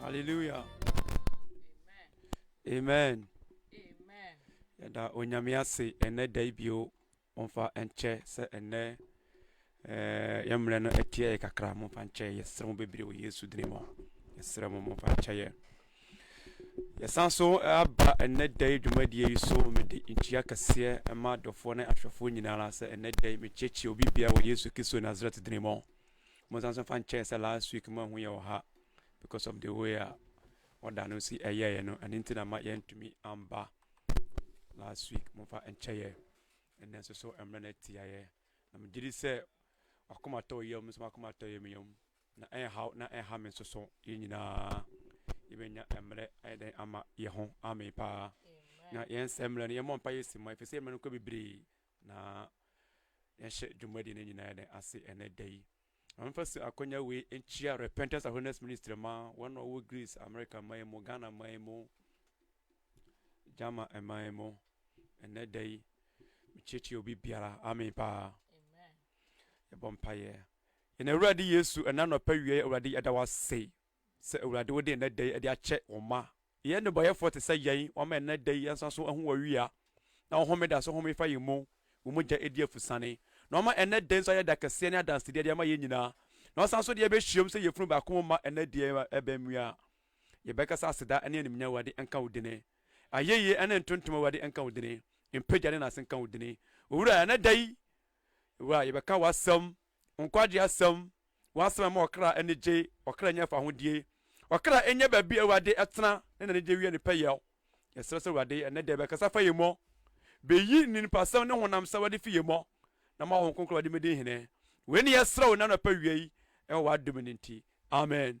Hallelujah. Amen. Amen. Yɛda onyame ase ɛnɛ da yi bio ɔmfa nkyɛ sɛ ɛnɛ eh, yɛmmerɛ no ɛteɛ yɛ kakra momfa nkyɛ yɛserɛ mo bebree wɔ yesu dini mu yɛserɛ mo momfa nkyɛ yɛ yɛsan so eh, aba ɛnɛ da yi dwumadie yi so mede nkyia kɛseɛ ɛma adɔfoɔ ne ahwɛfoɔ nyinaa sɛ ɛnɛ da yi mekyiekyie obi bia wɔ yesu kristo nasaret dini mu mo nsa nso fa nkyɛɛ sɛ last week mo ɛho yɛ ɔha because of the way a ɔda no si ɛyɛɛyɛ no ɛno nti na ma yɛntumi amba last week mo fa nkyɛyɛ ɛnɛ nso so mmerɛ no atiayɛ na megye di sɛ wakoma tɔ yam nso wakoma tɔ yam yam na ɛnhaw na ɛnha me nso so yɛn nyinaa yɛbɛnya mmerɛ ayɛ dɛn ama yɛ ho ame paa na yɛn sɛ mmerɛ no yɛmmɔ mpa yɛsi ma ɛfiri sɛ mmerɛ no kɔ bebree Na yɛnhyɛ dwumadi no nyinaa yɛn ase ɛnɛ da yi. Wɔmfa so akɔnya wei nkyia Repentance Awareness Ministry ma wɔn a wɔwɔ Greece, America man mu, Ghana man mu, German man mu. Ɛnɛ da yi, mekyerɛkyerɛ obi biara. Amen paa. Yɛbɔ mpaeɛ. Yɛn Awurade Yesu, ɛna nɔpɛ wie Awurade yɛda wase. Sɛ Awurade wode ɛnnɛ da yi de akyɛ wo mma. Yɛyɛ nnebɔyɛfoɔ te sɛ yɛn, wama ɛnnɛ da yi yɛn nsa so ahu w'awia, na wo homeda so home fa yɛn mu, wo mogya adi afusane, na wama ɛnnɛ da yi nso ayɛ da kɛseɛ ne adansedeɛ de ama yɛn nyinaa, na wasan so de yɛbɛhyiam sɛ yafunu baako mu mma ɛnnɛ deɛ ɛbɛn mu yi a. Yɛbɛka sɛ aseda ne animuonyam Awurade nka wo dini. Ayɛyie ne ntontom Awurade nka wo dini. Mpagya ne nase nka wo dini. Owura, ɛnnɛ da yi, Wura, yɛbɛka w'asɛm. Nkwagye asɛm, W'asɛm ɛma ɔkra ani gye, ɔkra nya fahodie. Ɔkra ɛnyɛ baabi a Awurade ɛtena ne n'anigye wie ne pɛyɛɔ. Yɛsrɛ sɛ Awurade ɛnnɛ da yi bɛkasa fa yɛn mu, bɛyi nninipasɛm ne honam sawadi fi yɛn mu, na ma Honhom Kronkron adi me din hene. Wei ne yɛsrɛ wo nnɛ anɔpa wia yi ɛwɔ w'adom no nti. Amen.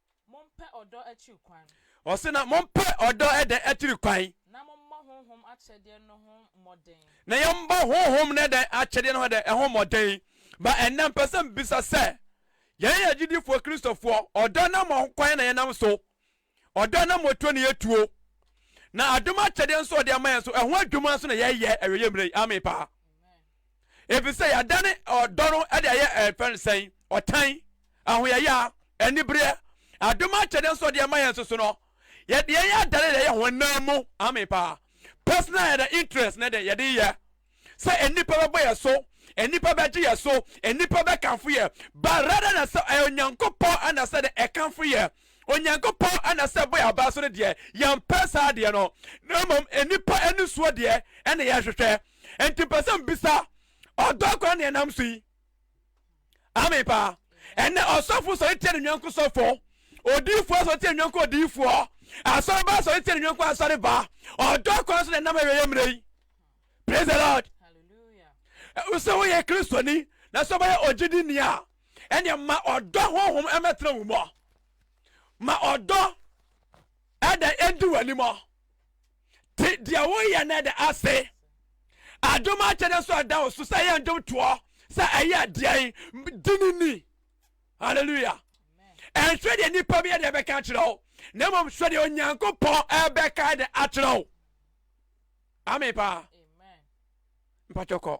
Mompɛ ɔdɔ akyiri kwan. Ɔse na mompɛ ɔdɔ ɛdɛn akyiri kwan. Na mommɔ honhom akyɛdeɛ no ho mmɔden. Na yɛmmɔ honhom no ɛdɛn akyɛdeɛ no ho ɛdɛn ɛho mmɔden. Ba ɛnnɛ mpɛ sɛ mbisa sɛ yɛn yɛ agyidifoɔ Kristofoɔ ɔdɔ nam wɔ ho kwan na yɛnam so. Ɔdɔ nam wɔ tuo na yɛtuo. Na adom akyɛdeɛ nso ɔde ama yɛn nso ɛho adwuma nso na yɛyɛ ɛwɛ yɛ mmerɛ yi. Amen paa. Efisɛ yɛadane ɔdɔ no de ayɛ ɛfɛ no sɛn? Ɔtan, ahoyɛyɛ, anibereɛ, adom akyɛdeɛ nso ɔde ama yɛn nso so no, yɛde yɛn yɛ adane de ayɛ honam mu. Amen paa. Personal and interest na de yɛde yɛ. Sɛ nnipa bɛbɔ yɛ so, nnipa bɛgye yɛ so, nnipa bɛkamfo yɛ. Ba rather na sɛ ɛyɛ Onyankopɔn ɛna sɛ de ɛkamfo yɛ. Onyankopɔn ɛna sɛ ɛbɔ yɛ abaa so no deɛ, yɛmpɛ saa adeɛ no. Na mmom nnipa ani soɔ deɛ ɛna yɛhwehwɛ. Enti pɛ sɛ mbisa ɔdɔ akora ne ɛnam so yi. Amen paa. Ɛnɛ ɔsɔfo sɔre tia ne nyɔnko sɔfo. Odiyifoɔ asɔre tia ne nyɔnko odiyifoɔ. Asɔreba asɔre tia ne nyɔnko asɔreba. Ɔdɔ akora so na ɛnam awieɛ mmerɛ yi. Praise the Lord. Sɛ woyɛ Kristoni na sɛ wobɛyɛ ogyidini a, ɛneɛ ma ɔdɔ honhom ɛmɛtena wo mu. Ma ɔdɔ ɛdɛ ɛndi w'anim. te deɛ woyɛ no de ase adom akyɛdɛ so ɛda wo so sɛ ɛyɛ ndom toɔ sɛ ɛyɛ deɛn di ne ni halleluya ɛnhwɛ deɛ nnipa bi ɛde ɛbɛka akyerɛ wo na mmom hwɛ deɛ onyankopɔn ɛbɛka ɛde akyerɛ wo ame paa mpatwɔkɔ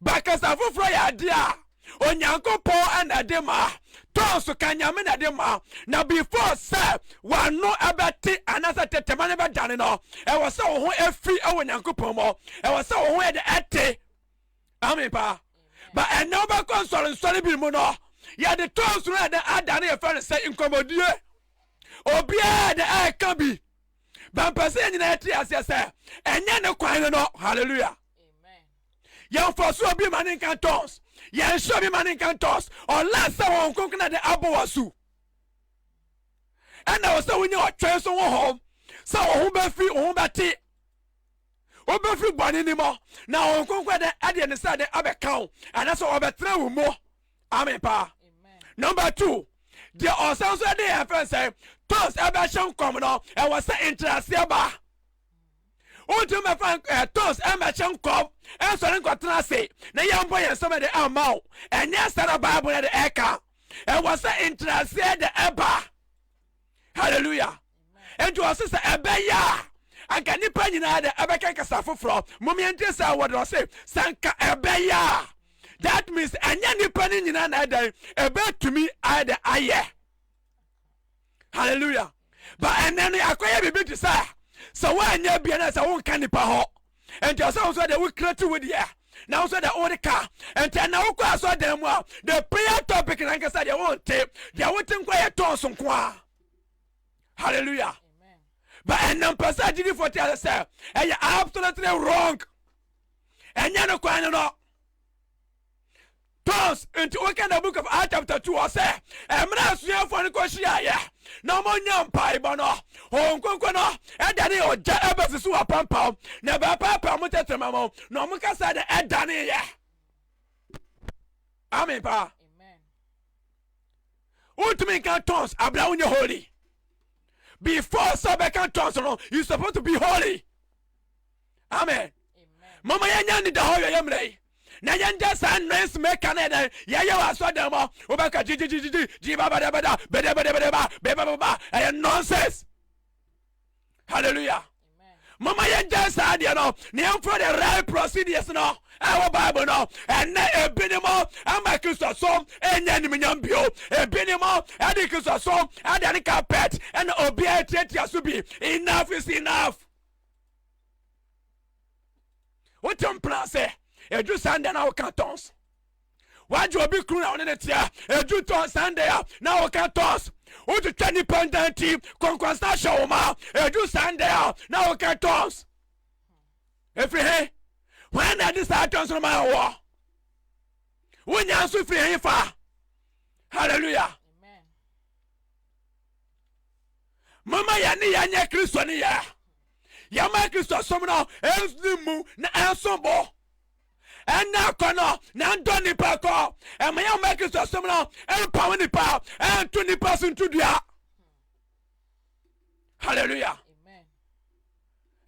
Ba kasa foforɔ yɛ adeɛ a Onyankopɔn na ɛde ma, tɔn so ka Nyame na ɛde ma, na before sɛ w'ano ɛbɛte anaasɛ tetema no bɛdane no, ɛwɔ sɛ wo ho ɛfiri ɛwɔ Nyankopɔn mɔ, ɛwɔ sɛ wo ho yɛde ɛte. Amen paa. Ba ɛnɛ wobɛkɔ nsɔre nsɔre bi mu no, yɛde tɔn so no ɛde adane yɛfrɛ no sɛ nkɔmmɔdie. Obiara de ɛka bi. bɛmpɛ sɛ yɛn nyinaa yɛte aseɛ sɛ ɛnyɛ ne kwan no no hallelujah yɛmfa so obi ma ne nka ntɔns yɛnhyɛ obi ma ne nka ntɔns ɔla sɛ wɔn nkonkona de abɔ wɔ so ɛna wɔ sɛ wonya ɔtwɛn so ho hɔm sɛ wɔn ho bɛfiri wɔn ho bɛte wobɛfiri bɔne ni mɔ na wɔn nkonkona de ɛdeɛ ne sɛ de abɛka wo ɛna sɛ wɔbɛtena wo mu amen paa number two deɛ ɔsan so de yɛn fɛn sɛ tons ɛbɛhyɛ nkɔm no ɛwɔ sɛ nkyerɛaseɛ ba wontumi mɛfa eh, tons ɛmɛhyɛ nkɔm ɛnsɔre nkɔtena ase na yɛmbɔ yɛn nsɛm de ama wo ɛnyɛ sɛ na bible no de ɛka ɛwɔ sɛ nkyerɛaseɛ de ɛba hallelujah nti ɔse sɛ ɛbɛyɛ a anka nnipa nyinaa dɛ ɛbɛka kasa foforɔ momeɛntie saa wɔ dɛ ɔse sɛ nka ɛbɛyɛ a that means ɛnyɛ nnipa no nyinaa na ɛdɛn ɛbɛtumi ayɛ dɛ ayɛ hallelujah ba ɛnɛ no akɔyɛ biribi te sɛ sɛ woanyɛ bia na sɛ wonka nnipa hɔ nti ɔsɛ wo sɛ deɛ wo create wo deɛ na wo sɛ deɛ wode ka nti na wokɔ asɔ dan mu a the prayer topic na nkasa deɛ wonte deɛ wote nkɔ yɛ tɔn so nko a hallelujah but ɛnam pɛ sɛ agyidifoɔ te ase sɛ ɛyɛ absolutely wrong ɛnyɛ no kwan no no tons nti woka the book of Acts chapter two ɔsɛ ɛmira asuafoɔ no kɔhyiaeɛ na wɔnya mpaebɔ no wɔn nkonko no ɛdane ɔgya ɛbɛsi so apampaw na ɛbɛpaapaw mo tɛtɛma mo na wɔn kasa na ɛdane yɛ amen paa wotumi nka tons abira wonyɛ holy before sɛ bɛka tons no you supposed to be holy. amen mama yɛnya nida hɔ yɛyɛ mmerɛ yi na yɛnda saa noise maker no ɛdɛn yɛyɛ wɔ asɔdan mu wobɛka gyigyigyigyigyi gyibabadabada bedebedebedeba bebababa ɛyɛ nonsense hallelujah mama yɛnda saa deɛ no na yɛmfrɛ the right procedures no ɛwɔ bible no ɛnɛ ebi ne mo ama kristosom ɛnyɛ animuonyam bio ebi ne mo ɛde kristosom ɛda ne carpet ɛna obiara tiatia so bi enough is enough wote mpena sɛ ɛduru saa ndɛ na woka tons wagye obi kunu na wone ne tea ɛduru tɔ saa ndɛ a na woka tons wotwitwa nnipa ntanti kɔnkɔnsa hyɛ wo ma ɛduru saa ndɛ a na woka tons ɛfiri he hwan na ɛde saa tons no ma wɔ wonya nso firi he fa hallelujah mama yɛn ne yɛn nyɛ kristo ne yɛ yɛma kristo som no ɛmfini mu na ɛnso bo ɛnna akɔ no na ndɔ nipa kɔ ɛma yɛn ma kristo som no ɛmpaw nipa ɛnto nipa so nto dua hallelujah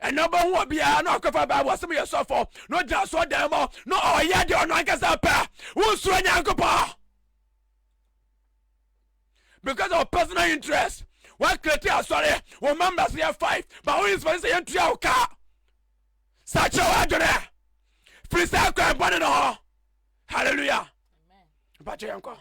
ɛnna ɔbɛhu obiara na ɔkɔfa bible ɔsɛm yɛ sɔfo na ɔgyina so ɔdan mu na ɔyɛ deɛ ɔno ankasa pɛ wonsuro nyankopɔn because of personal interest woakreti asɔre wo members yɛ five ba wo inspɛte sɛ yɛntua wo kaa saa kyerɛ woadwene firi saa kwan bɔne no hɔ halleluya mpakyɛ yɛnkɔ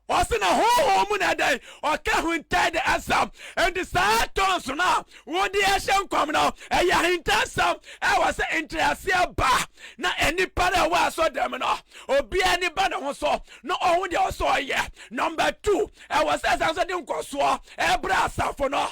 ɔse na honhom mu na ɛdɛn ɔka huntai de asɛm enti saa tons no a Wo de ɛhyɛ nkɔm no, ɛyɛ ahintasɛm. Ɛwɔ sɛ nteaseɛ ba na nnipa no ɛwɔ asɔdɛm no, obiara ani ba ne ho so na ɔho deɛ ɔsɛ ɔyɛ. Nɔmba tu, ɛwɔ sɛ ɛsan nso de nkɔsoɔ ɛbrɛ asafo no.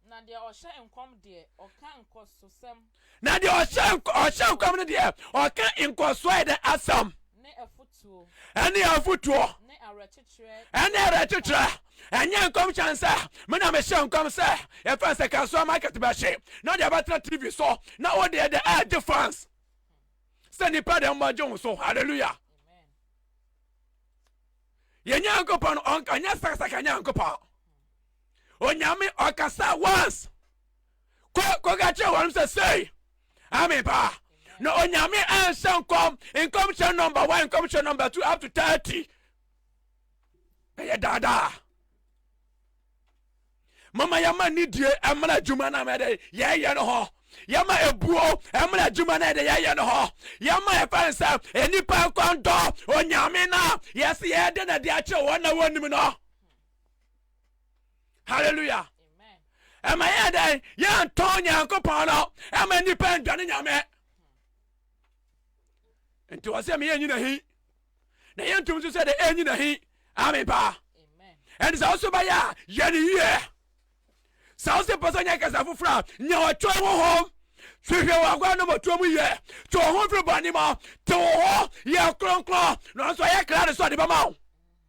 Na deɛ ɔhyɛ nkɔm deɛ, ɔka nkɔsosɛm. Na deɛ ɔhyɛ nk- ɔhyɛ nkɔm no deɛ ɔka nkɔsoɔɛ dɛ asɛm ne afotuo ɛne afotuo ne awerɛkyekyerɛ ɛne ɛne awerɛkyekyerɛ nkɔm. ɛnyɛ nkɔm hyɛn sɛ me na mehyɛ nkɔm sɛ yɛfɛn sɛ kasoa market bɛhye na ɔde abɛtena tv so na wodeɛ dɛ ɛgye fans sɛ nipa dɛ mmɔgye wo so hallelujah Amen. yɛ nyankopɔn ɔnka ɔnyɛ sakasaka nyankopɔn onyame ɔkasa once Kɔ kɔka kyerɛ wɔnom sɛ sei, Amen paa. Na Onyame anhyɛ nkɔm, nkɔmhyɛ nɔmba 1, nkɔmhyɛ nɔmba 2 up to 30. Ɛyɛ daadaa. Mama yɛma nidie ɛmra adwuma no a yɛyɛ no hɔ yɛma ebuo ɛmra adwuma no ɛde yɛyɛ no hɔ yɛma ɛfa no sɛ nnipa nkɔndɔ onyame no a yɛse yɛde na de akyerɛ wɔn na wɔnim no halleluya ɛma yɛ dɛn yɛntɔ nyankopɔn no ɛma nnipa ndwane nyame nti wɔ sɛ meyɛ nyina hi na yɛntom so sɛ dɛ ɛnyina hi ame paa ɛnti sɛ woso bɛyɛ a yɛne yie sɛ wo se pɛ sɛ nyɛ kasa foforɔ a nya ɔtwerɛ ho hom hwehwɛ wɔ agoa no mɔtuo mu yɛ te wo ho firi bɔne mɔ te wo ho yɛ kronkron nanso ɛyɛ kra de sɛ ɔde bɛma wo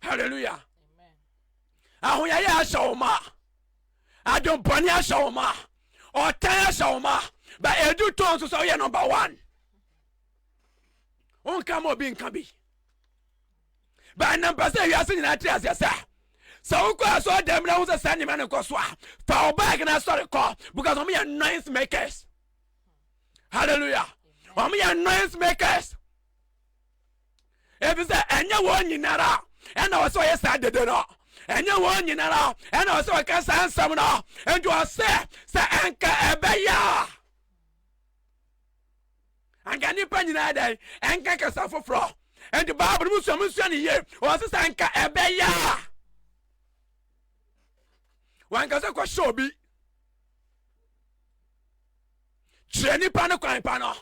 hallelujah ahoyɛyɛ ahyɛ wo ma adwempɔne ahyɛ wo ma ɔtan ahyɛ wo ma ba ɛdu tɔn nso sɛ woyɛ number one wonka ma obi nka bi bɛnam pɛ sɛ wiase nyinaa te aseɛ sɛ sɛ wokɔ asɔ dɛm na wo sɛ saa nneɛma no kɔ so a fa wo bag na asɔre kɔ because wɔn yɛ noise makers hallelujah wɔn yɛ noise makers efisɛ ɛnyɛ wɔn nyinara ɛna ɔsɛ ɔyɛ saa dede no ɛnyɛ wɔn nyinara ɛna ɔsɛ ɔka saa nsɛm no nti ɔsɛ sɛ ɛnka ɛbɛyɛ a anka nipa nyinaa dɛn ɛnka kasa foforɔ nti baabolo mu sua mu sua ne yie ɔsɛ sɛ ɛnka ɛbɛyɛ a wankasa kɔhyɛ obi Kyerɛ nipa no kwan pa no.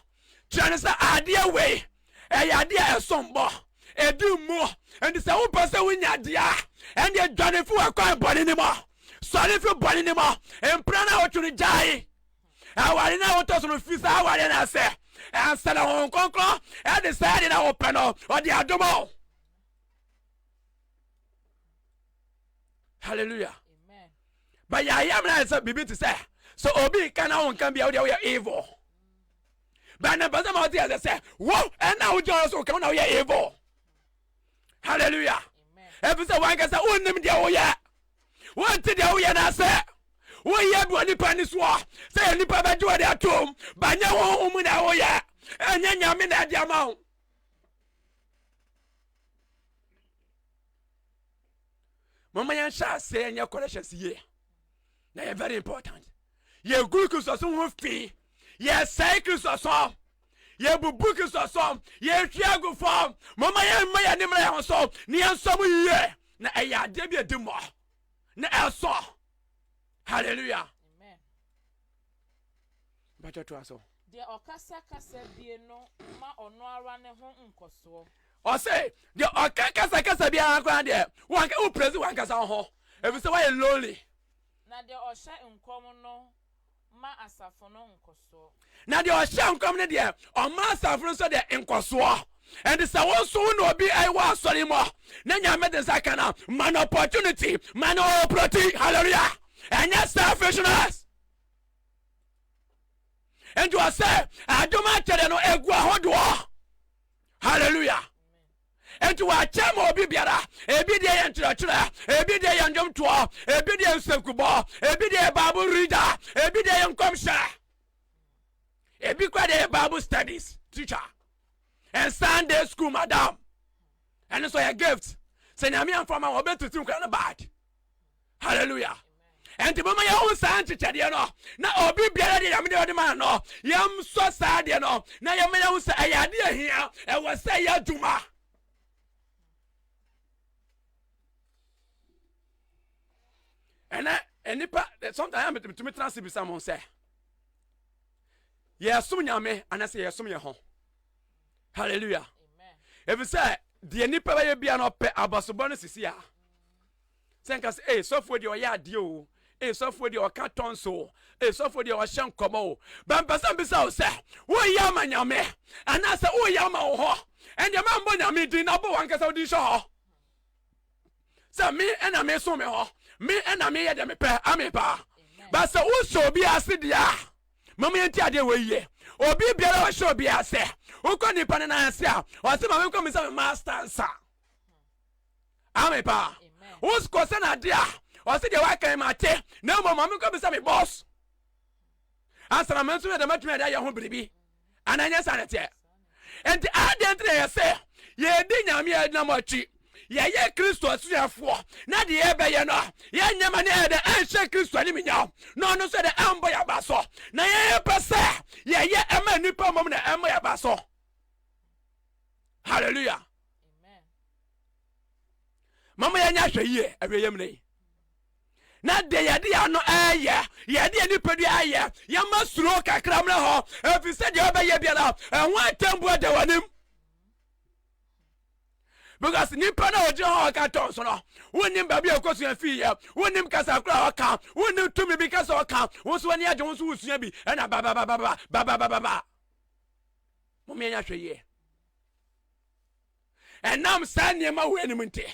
Kyerɛ no sɛ adeɛ wei ɛyɛ adeɛ a ɛsom bo, ɛdi mu, nti sɛ wopɛ sɛ wonya deɛ a, ɛnneɛ dwane fi w'akwan bɔne no mu, sɔre fi bɔne no mu, mpena no a wotwe no gyae aware no a wotɔ so no, fi saa awareɛ no ase, ansa na Honhom Kronkron ɛde saa adeɛ no a wopɛ no ɔde adom wo. hallelujah but yɛayɛ mena yɛ sɛ biribi te sɛ sɛ obi nka na wonka bia wodeɛ woyɛ evil but ne mpɛsɛ ma wote ɛsɛ sɛ wo ɛna wogyina ɔyɛ so woka wo na woyɛ evil hallelujah ɛfi sɛ wankasa wonnim deɛ woyɛ wonte deɛ woyɛ no ase woyɛ bi wɔ nipa ni soɔ sɛ yɛ nipa bɛgye wɔde atom banyɛ honhom mu na woyɛ ɛnyɛ nyame na ɛde ama wo mama yɛnhyɛ aseɛ yɛnyɛ corrections yie na yɛ very important yɛgu kristosom ho fi yɛsɛe kristosom yɛbubu kristosom yɛhwe agu fam mama yɛmma yɛne mmra yɛ ho so ne yɛnsɔ mu yie na ɛyɛ adeɛ bi adi mmɔ na ɛsɔ hallelujah Mpakyɛ toa so. Deɛ ɔkasa kasa bie no ma ɔno ara ne ho nkɔsoɔ. Ɔse deɛ ɔka kasa kasa biara koraa deɛ wanka wo praise wankasa wo ho efisɛ wayɛ lonely. Na deɛ ɔhyɛ nkɔm no ma asafo no nkɔsoɔ. Na deɛ ɔhyɛ nkɔm no deɛ ɔma asafo no nso deɛ nkɔsoɔ. Ɛnti sɛ wo nso wo na obi ɛwɔ eh, asɔre mu na nyame de nsa ka no a ma no opportunity ma no opportunity hallelujah ɛnyɛ selfishness. nti ɔsɛ adom akyɛdɛ no ɛgu ahodoɔ halleluya nti wɔakyɛ ma obi biara ebi deɛ yɛ nkyerɛkyerɛ ebi deɛ yɛ ndwomtoɔ ebi deɛ nsɛnkubɔ ebi deɛ yɛ bible reader ebi deɛ yɛ nkɔmhyɛ ebi kora deɛ yɛ bible studies teacher and sunday school madam ɛno nso yɛ gift sɛ nyame amfa ma wɔbɛtete nkora no bad hallelujah ɛnti moma yɛhu saa nkyekyɛdeɛ no na obi biara deɛ nyame deɛ ɔde ma no yɛmsɔ saa deɛ no na yɛma yɛhu sɛ ɛyɛ adeɛ ahia ɛwɔ sɛ yɛ adwuma ɛnɛ nnipa sometimes metumi tena se bisa mo sɛ yɛsom nyame anasɛ yɛsom yɛ ho halleluya ɛfiri sɛ deɛ nnipa bɛyɛ bia no ɔpɛ abasobɔ no sisi a sɛ nka sɛ ee sɔfoɔ deɛ ɔyɛ adeɛ o ee sɔfoɔ deɛ ɔka tɔn so o ee sɔfoɔ deɛ ɔhyɛ nkɔmɔ o bɛnpɛsɛ mbisa o sɛ woyɛ ama nyame anaasɛ woyɛ ama wo hɔ ɛndeɛ ma mbɔ nyame din na bɔ wankasa wo din hyɛ hɔ sɛ me ɛna me so me hɔ me ɛna me yɛ deɛ mepɛ ame paa bɛsɛ wosɔ obi ase deɛ a mama yɛnti adeɛ wɔ yie obi biara ɔhyɛ obi ase wokɔ nipa no nan ase a ɔsɛ ma menkɔ me sɛ me master nsa ame paa wosikɔ sɛ na adeɛ a ɔse deɛ wakan ma ate na mmom ma mekɔ bisa me bɔs ansa na me nso mede matumi ade ayɛ ho biribi anaa nyɛ saa ne teɛ nti adeɛ nti na yɛ sɛ yɛdi nyame a ɛdinam akyi yɛyɛ kristo asuafoɔ na deɛ yɛbɛyɛ no yɛnyɛ ma ne ɛdɛ ɛnhyɛ kristo anim nyaw na ɔno nso ɛdɛ ɛmbɔ yɛ aba so na yɛyɛpɛ sɛ yɛyɛ ɛma nnipa mmom na ɛmmɔ yɛ aba so hallelujah mama yɛnyɛ ahwɛ yie awia yam ne na deɛ yɛde yɛ ano ɛyɛ yɛde yɛ nipadua ɛyɛ yɛma suro kakra mmerɛ hɔ ɛfiri sɛ deɛ ɔbɛyɛ biara ɛho atɛmbu ada w'anim because nipa na ɔgyina hɔ ɔka tɔn so no wonim baabi a ɔkɔsua fii yɛ wonim kasa koro a ɔka wonim tumi bi kasa ɔka wo so ani agye wo so wosua bi ɛna bababababa bababababa mom yɛnyɛ ahwɛ yie ɛnam saa nneɛma wei anim nti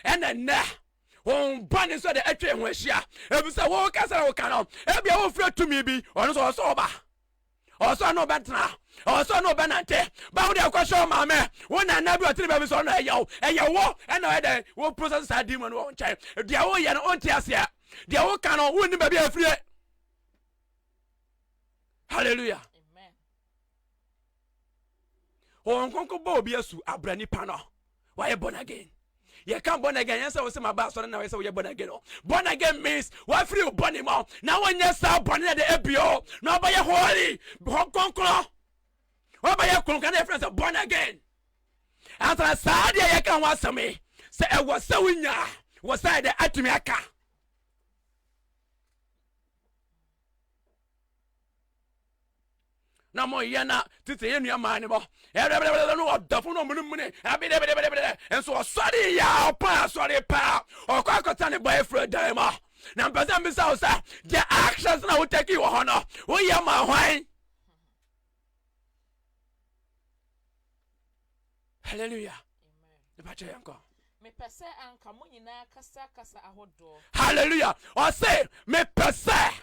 ɛna nnɛ wɔn ba ne nso de atwa ho ahyia efisɛ wɔn kasa na wɔka no ebi a wɔfura tumi bi ɔno nso ɔsɔ ɔba ɔsɔ no ɔbɛtena ɔsɔ no ɔbɛnante bawo de ɛkɔ hyɛ ɔmaa mɛ wɔn na nna bi ɔtene baabi sɛ ɔno ɛyɛ wo ɛyɛ wɔ ɛna ɔyɛ dɛ wɔ process saa di mu no wɔn nkyɛn deɛ wɔyɛ no ɔnte aseɛ deɛ wɔka no wɔn ni baabi afirie hallelujah. wɔn kɔnkɔ bɔ obi asu abra nipa no wɔayɛ born again yɛka born again yɛn sɛ wɔsɛ ma ba asɔre na wɔyɛ sɛ wɔyɛ born again o born again means wɔafiri wo bɔne mu na wɔnyɛ saa bɔne na de abio na wɔbɛyɛ holy hɔ kɔnkɔn wɔbɛyɛ kɔnkɔn na yɛfrɛ sɛ born again ansa saa deɛ yɛka ho asɛm yi sɛ ɛwɔ sɛ wonya wɔ sɛ ɛdɛ atumi aka na mo yɛ na tete yɛ nua maa ne bɔ ɛbɛbɛbɛbɛ no ɔdafo no ɔmunu mune ɛbɛbɛbɛbɛbɛ nso ɔsɔre yɛ ɔpɔn asɔre paa ɔkɔ akɔta ne bɔ efura dan mu na mpɛsɛ mbisa wo sɛ deɛ actions na wotaki wɔ hɔ no woyɛ ma hwan hallelujah ɛbɛkyɛ yɛn kɔ mepɛ sɛ anka mo nyinaa kasa kasa ahodoɔ hallelujah ɔse mepɛ sɛ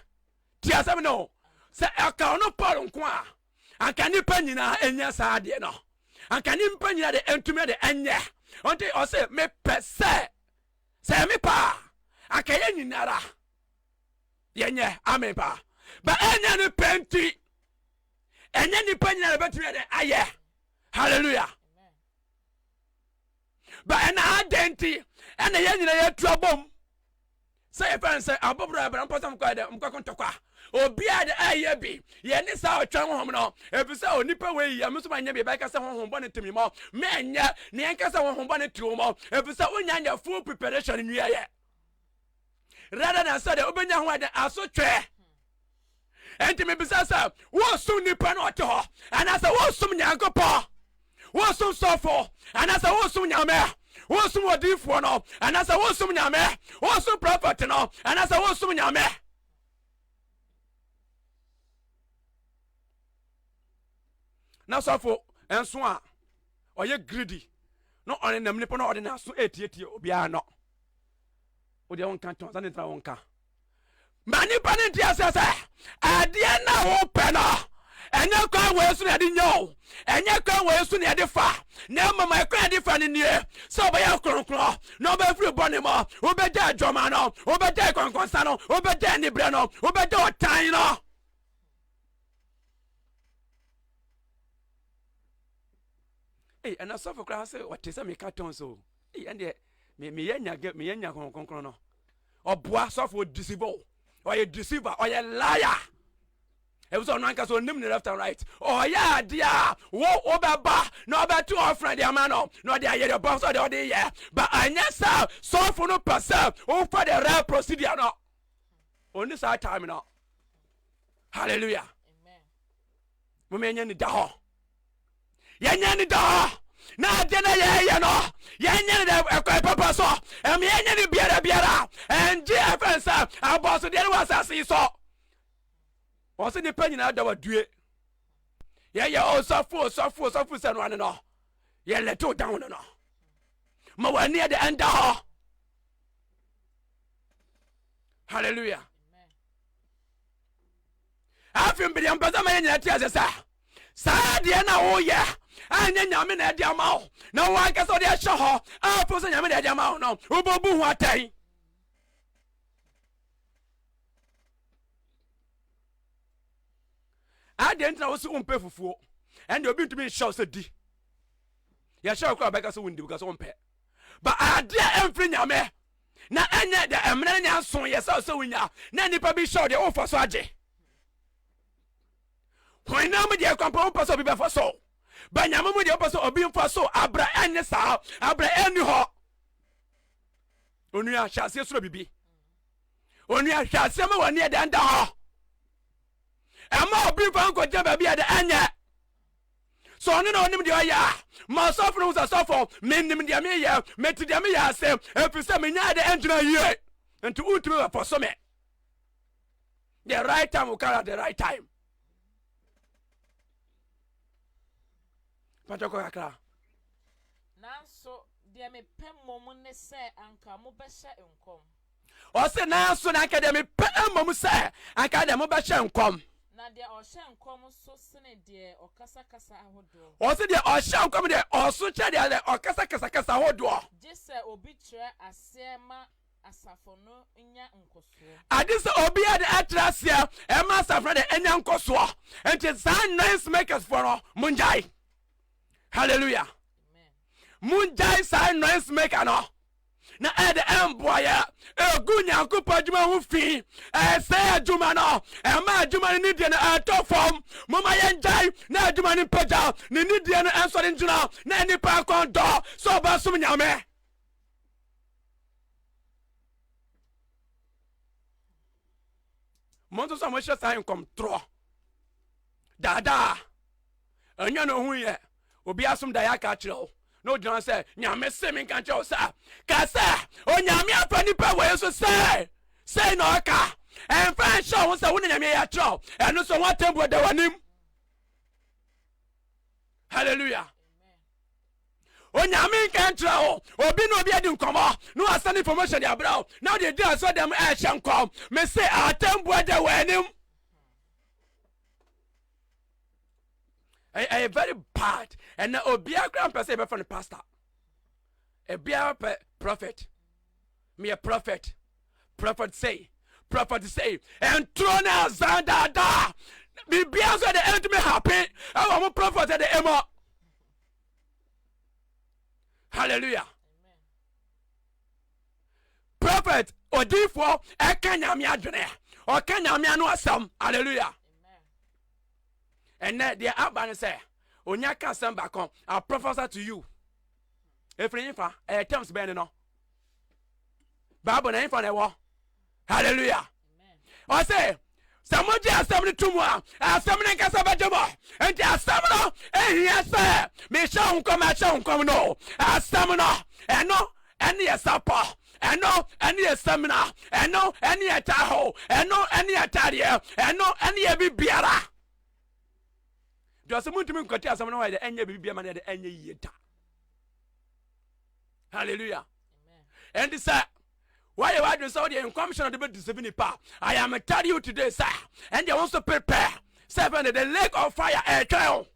Tie asɛm no o, sɛ ɛka ɔno Paul nko a, anka nnipa nyinaa ɛnya saa adeɛ no. Anka nnipa nyinaa de ɛntumi ɛde ɛnyɛ. Ɔnti ɔse, mepɛ sɛ, sɛ ɛyɛ me paa, anka yɛ nyinara yɛnyɛ. Amen paa. Ba ɛnyɛ ne pɛ nti, ɛnyɛ nnipa nyinaa de bɛtumi ɛde ayɛ. Hallelujah. Ba ɛna adɛn nti, ɛna yɛ nyinaa yɛtu abom. Sɛ yɛpɛ nsɛ abɔbɔrɔ ɛbra mpɔ sɛ mokɔ ɛdɛ mokɔ ko ntɔkwa obiara de ɛyɛ bi yɛ ne saa ɔtwɛn honhom no ebi sɛ onipa wei yɛ mesoma nyɛ bi bɛka sɛ honhom bɔ ne tumi mɔ menyɛ ne yɛn kasa honhom bɔ ne tumi mɔ ebi sɛ wonya nyɛ full preparation nwiɛ yɛ rather than sɛ de wobɛnya ho ɛdɛ asotwɛ Enti mebisa sɛ, woresom nipa na ɔte hɔ, anaasɛ woresom Nyankopɔn? Woresom sɔfo, anaasɛ woresom Nyame? Woresom odiyifoɔ no, anaasɛ woresom Nyame? Woresom prɔfɛt no, anaasɛ woresom Nyame? Na sɔfo nso a ɔyɛ greedy na ɔne nam nipa na ɔde n'aso etietie obiara no. Wodeɛ wonka tɔn, sani tena wonka. Ma nnipa no nte aseɛ sɛ adeɛ no a wopɛ no ɛnyɛ kwan wei so na yɛde nya o ɛnyɛ kwan wei so na yɛde fa na mmom ɛkwan yɛde fa no nie sɛ wobɛyɛ kronkron na wobɛfiri bɔne mu wobɛgya adwama no wobɛgya akɔnkɔnsa no wobɛgya aniberɛ no wobɛgya ɔtan no Ei, ɛna sɔfo koraa sɛ ɔte sɛ meka tɔn so Ei, ɛndeɛ meyɛ nya meyɛ nya kronkron no ɔboa sɔfo ɔdeceive o ɔyɛ deceiver ɔyɛ liar ebi sɛ ɔno ankasa onim ne left and right ɔyɛ adeɛ a wo wobɛba na ɔbɛto ɔfrɛ de ama no na ɔde ayɛ deɛ ɔbɔ sɛ ɔde ɔde yɛ ba anyɛ sɛ sɔfo no pɛ sɛ wofa the right procedure no ɔni saa time no hallelujah momɛnyɛ ne da hɔ yɛnyɛ no daa na ade na yɛyɛ no yɛnyɛ no dɛ ɛkwan papa so ɛma yɛnyɛ no biara biara ɛngye ɛfɛ nsɛ abɔsodeɛ no wɔ asase yi so wɔ so nipa nyinaa da wadue yɛyɛ ɔsɔfo ɔsɔfo ɔsɔfo sɛ no ano no yɛlɛtew down no no ma w'ani ɛde ɛnda hɔ hallelujah Afei mede mpɛ sɛ ma yɛ nyina te ase sɛ saa adeɛ no a woyɛ anyɛ nyame na ɛde ama wo na wo ankasa wode ahyɛ hɔ a fo sɛ nyame na ɛde ama wo no wobɛbu ho atɛn adeɛ ntina wo se wompɛ fufuo ɛnde obi ntumi nhyɛ wo sɛ di yɛhyɛ wo kora wobɛka sɛ wondi woka sɛ wompɛ ba adeɛ ɛmfiri nyame Na ɛnyɛ dɛ mmara no nyɛ nson yɛ sɛ ɔsɛ wonya na nnipa bi hyɛw deɛ wofa so agye honam deɛ kwan pa wopɛ sɛ obi bɛfa so ba nyame mu deɛ wopɛ sɛ obi mfa so abra ɛnyɛ saa abra ɛnni hɔ onua hyɛ aseɛ soro bibi onua hwɛ aseɛ ma w'ani ɛdɛ nda hɔ ɛma obi mfa nkɔgyina baabi ɛdɛ ɛnyɛ Sɛ ɔno na ɔnim deɛ ɔyɛ a, ma ɔsɔfo no hu sɛ, Sɔfo, mennim deɛ meyɛ, mete deɛ meyɛ ase, ɛfiri sɛ menyɛ ade ɛngyina yie, nti wontumi bɛfɔso me. The right time will come at the right time. Pàtó kọ kakra. Nanso deɛ mepɛ mmom ne sɛ anka mobɛhyɛ nkɔm. Ɔse, Nanso na anka deɛ mepɛ mmom sɛ anka deɛ mobɛhyɛ nkɔm. Na deɛ ɔhyɛ nkɔm so sene deɛ ɔkasakasa ahodoɔ. Ɔse, Deɛ ɔhyɛ nkɔm deɛ ɔso kyɛn deɛ ɔkasakasa kasa ahodoɔ. Gye sɛ obi kyerɛ aseɛ ma asafo no nya nkɔsoɔ. Agye sɛ obi yɛ deɛ ɛkyerɛ aseɛ ɛma asafo no deɛ ɛnya nkɔsoɔ. Nti saa noise makers foɔ no, mongyae. Hallelujah. Mongyae saa noise maker no. na ɛde mboaeɛ gu Nyankopɔn adwuma ho fi, ɛsɛe adwuma no, ɛma adwuma no nidie no ɛtɔ fam. Moma yɛngyae na adwuma no mpagya ne nidie no ɛnsɔre ngyina na nipa akɔn dɔ sɛ ɔbɛsom Nyame. Mo nso so a mohyɛ saa nkɔmtorɔ daadaa Ɛnyɛ na ohun yɛ. Obi asom daeɛ aka akyerɛ wo, na ogyina hɔ sɛ, Nyame se me nka nkyerɛ wo saa. Ka sɛ, Onyame afa nipa wei so sɛ, sei na ɔka. Ɛmfa nhyɛ wo ho sɛ wo na Nyame ayi akyerɛ wo. Ɛno so ho atɛmbuo da w'anim. Hallelujah. onyame nka nkyerɛ wo obi na obi adi nkɔmmɔ na wasan information de abrɛ wo na wode di asɔ dɛm ɛhyɛ nkɔm mese atɛmboa da w'anim ɛyɛ very bad ɛnna obiara kora mpɛ sɛ yɛbɛfa no pastor obiara pɛ prophet meyɛ prophet prophet say prophet say ɛntoro ne azan daadaa biribiara nso de ɛntumi happen ɛwɔ mo prophet de ɛmɔ hallelujah prophet odiifoɔ ɛka nyame adwene ɔka nyame ano asɛm hallelujah ɛnɛ deɛ aba no sɛ onya ka asɛm baako i prophesy to you ɛfiri nfa ɛyɛ terms bɛn no no bible na nfa na ɛwɔ halleluya ɔse sɛ mogye asɛm no to mu a asɛm no nkasa bɛgye mɔ enti asɛm no ɛhia sɛ mehyɛ wo nkɔm ɛhyɛ wo nkɔm no asɛm no ɛno ɛne yɛ sapɔ ɛno ɛne yɛ samina ɛno ɛne yɛ taho ɛno ɛne yɛ tadeɛ ɛno ɛne yɛ bibiara deɛ ɔsɛ montumi nkɔte asɛm no hɔ yɛde ɛnyɛ biribi biama no yɛde ɛnyɛ yie da hallelujah ɛnti sɛ woayɛ w'adwene sɛ wodeɛ nkɔmhyɛ no de bɛdisɛbi nipa i am tell you today sɛ ɛndeɛ wo nso prepare sɛ fɛne the lake of fire ɛtwɛn o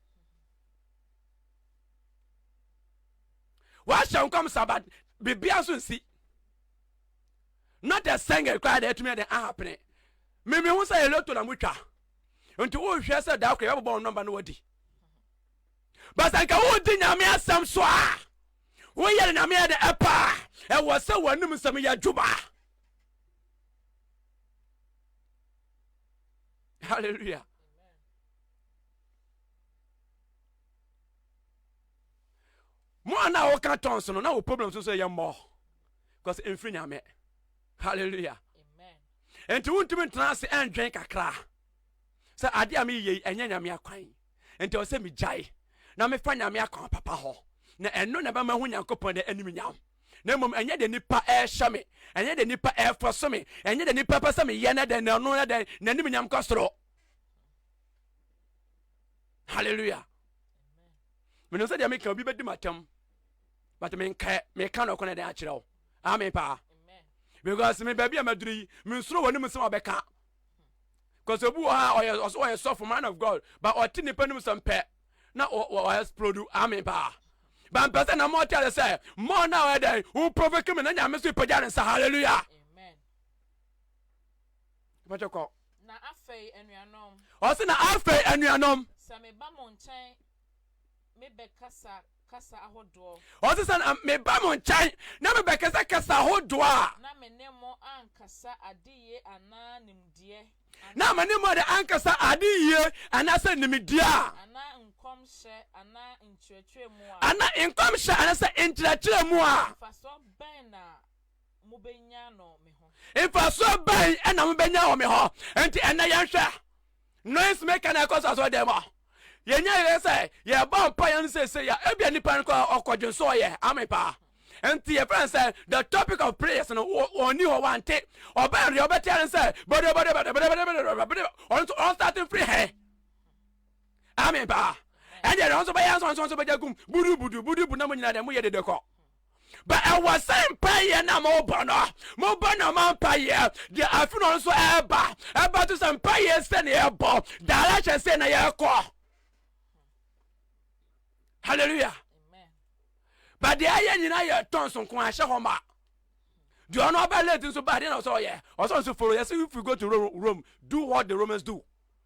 wahyɛ nkɔm sa but biribia nso nsi not a sɛngɛ koraa deɛ ɛtumi ɛde ahapene mimi ho sɛ yɛlɛto na motwa nti wohwɛ sɛ daa kora yɛbɛbɔ wo nɔmba no wadi But sɛ anka wodi Nyame asɛm so a, woyɛ no Nyame ɛde ɛpa a, ɛwɔ sɛ w'anom nsɛm yɛ adwuma. Hallelujah. mo a na woka tons no na wo problem so so yɛ mmɔ because mfiri nyame hallelujah nti wontumi ntena ase ɛndwen kakra sɛ adeɛ a meyɛ yi ɛnyɛ nyame akwan Enti ɛwɔ sɛ migyae na mefa Nyame akwan papa hɔ, na ɛno na ɛbɛma mahu Nyankopɔn dɛ animuonyam, na mmom ɛnyɛ dɛ nnipa ɛrehyɛ me, ɛnyɛ dɛ nnipa ɛrefɔso me, ɛnyɛ dɛ nnipa pɛ sɛ meyɛ na dɛn, na ɔno na dɛn, n'animuonyam kɔ soro. Hallelujah. Menim sɛ deɛ meka obi bɛdi m'atɛm, but menkɛ, meka no ɔkɔ na dɛn akyerɛ wo. Amen paa. Because me baabi a maduru yi, mensuro wɔ ne mu sɛ wɔbɛka. kɔsɛ obi wɔ ha a ɔyɛ ɔsɛ ɔyɛ sɔfo man of god ba ɔte nipa nim sɛm pɛ na ɔyɛ splodu ame paa ba mpɛ sɛ na mo ɔte ade sɛ mo na ɔyɛ dɛn wo provoke me na nyame so ipagya ne nsa hallelujah mɛtwɛ kɔ na afei anuanom ɔsɛ na afei anuanom sɛ meba mo nkyɛn mebɛkasa kasa ahodoɔ. Ɔse sɛ na meba mo nkyɛn na mebɛkasa kasa ahodoɔ a. Na me ne mo ankasa adeyie anaa nimdeɛ anaa. Na me ne mo de ankasa adeyie anaasɛ nimdeɛ a. Anaa nkɔmhyɛ anaa nkyerɛkyerɛ mu a. Anaa nkɔmhyɛ anaasɛ nkyerɛkyerɛ mu a. Mfasoɔ bɛn na mobɛnya no me ho. Mfasoɔ bɛn na mobɛnya wɔ me hɔ. Enti ɛnnɛ yɛnhwɛ. Noise maker na ɛkɔ so asɔre dɛm a yɛnya yɛ sɛ yɛbɔ mpa yɛn sese yɛ ebia nipa no kɔ ɔkɔ dwen so ɔyɛ ame paa nti yɛfrɛ no sɛ the topic of prayers no ɔni hɔ wante ɔbɛn deɛ ɔbɛteɛ no sɛ bɔdɔbɔdɔbɔdɔbɔdɔbɔdɔbɔdɔbɔdɔ ɔno nso ɔnstate mfiri hɛn ame paa ɛdeɛ ɔno nso bɛyɛ nso nso bɛgya gum budubudu budubu na mo nyina deɛ moyɛ dede kɔ But ɛwɔ sɛ mpaeɛ no a mobɔ no mobɔ nɔma mpaeɛ deɛ afe no nso ɛreba ɛbɛto sɛ mpaeɛ sɛ na yɛbɔ direction sɛ na yɛkɔ hallelujah but deɛ ɛyɛ nyina yɛ tɔn so nko ahyɛ hɔ ma deɛ ɔno ɔbɛ late nso ba deɛ na ɔsɛ ɔyɛ ɔsɛ nso follow yɛsɛ if we go to Rome do what the Romans do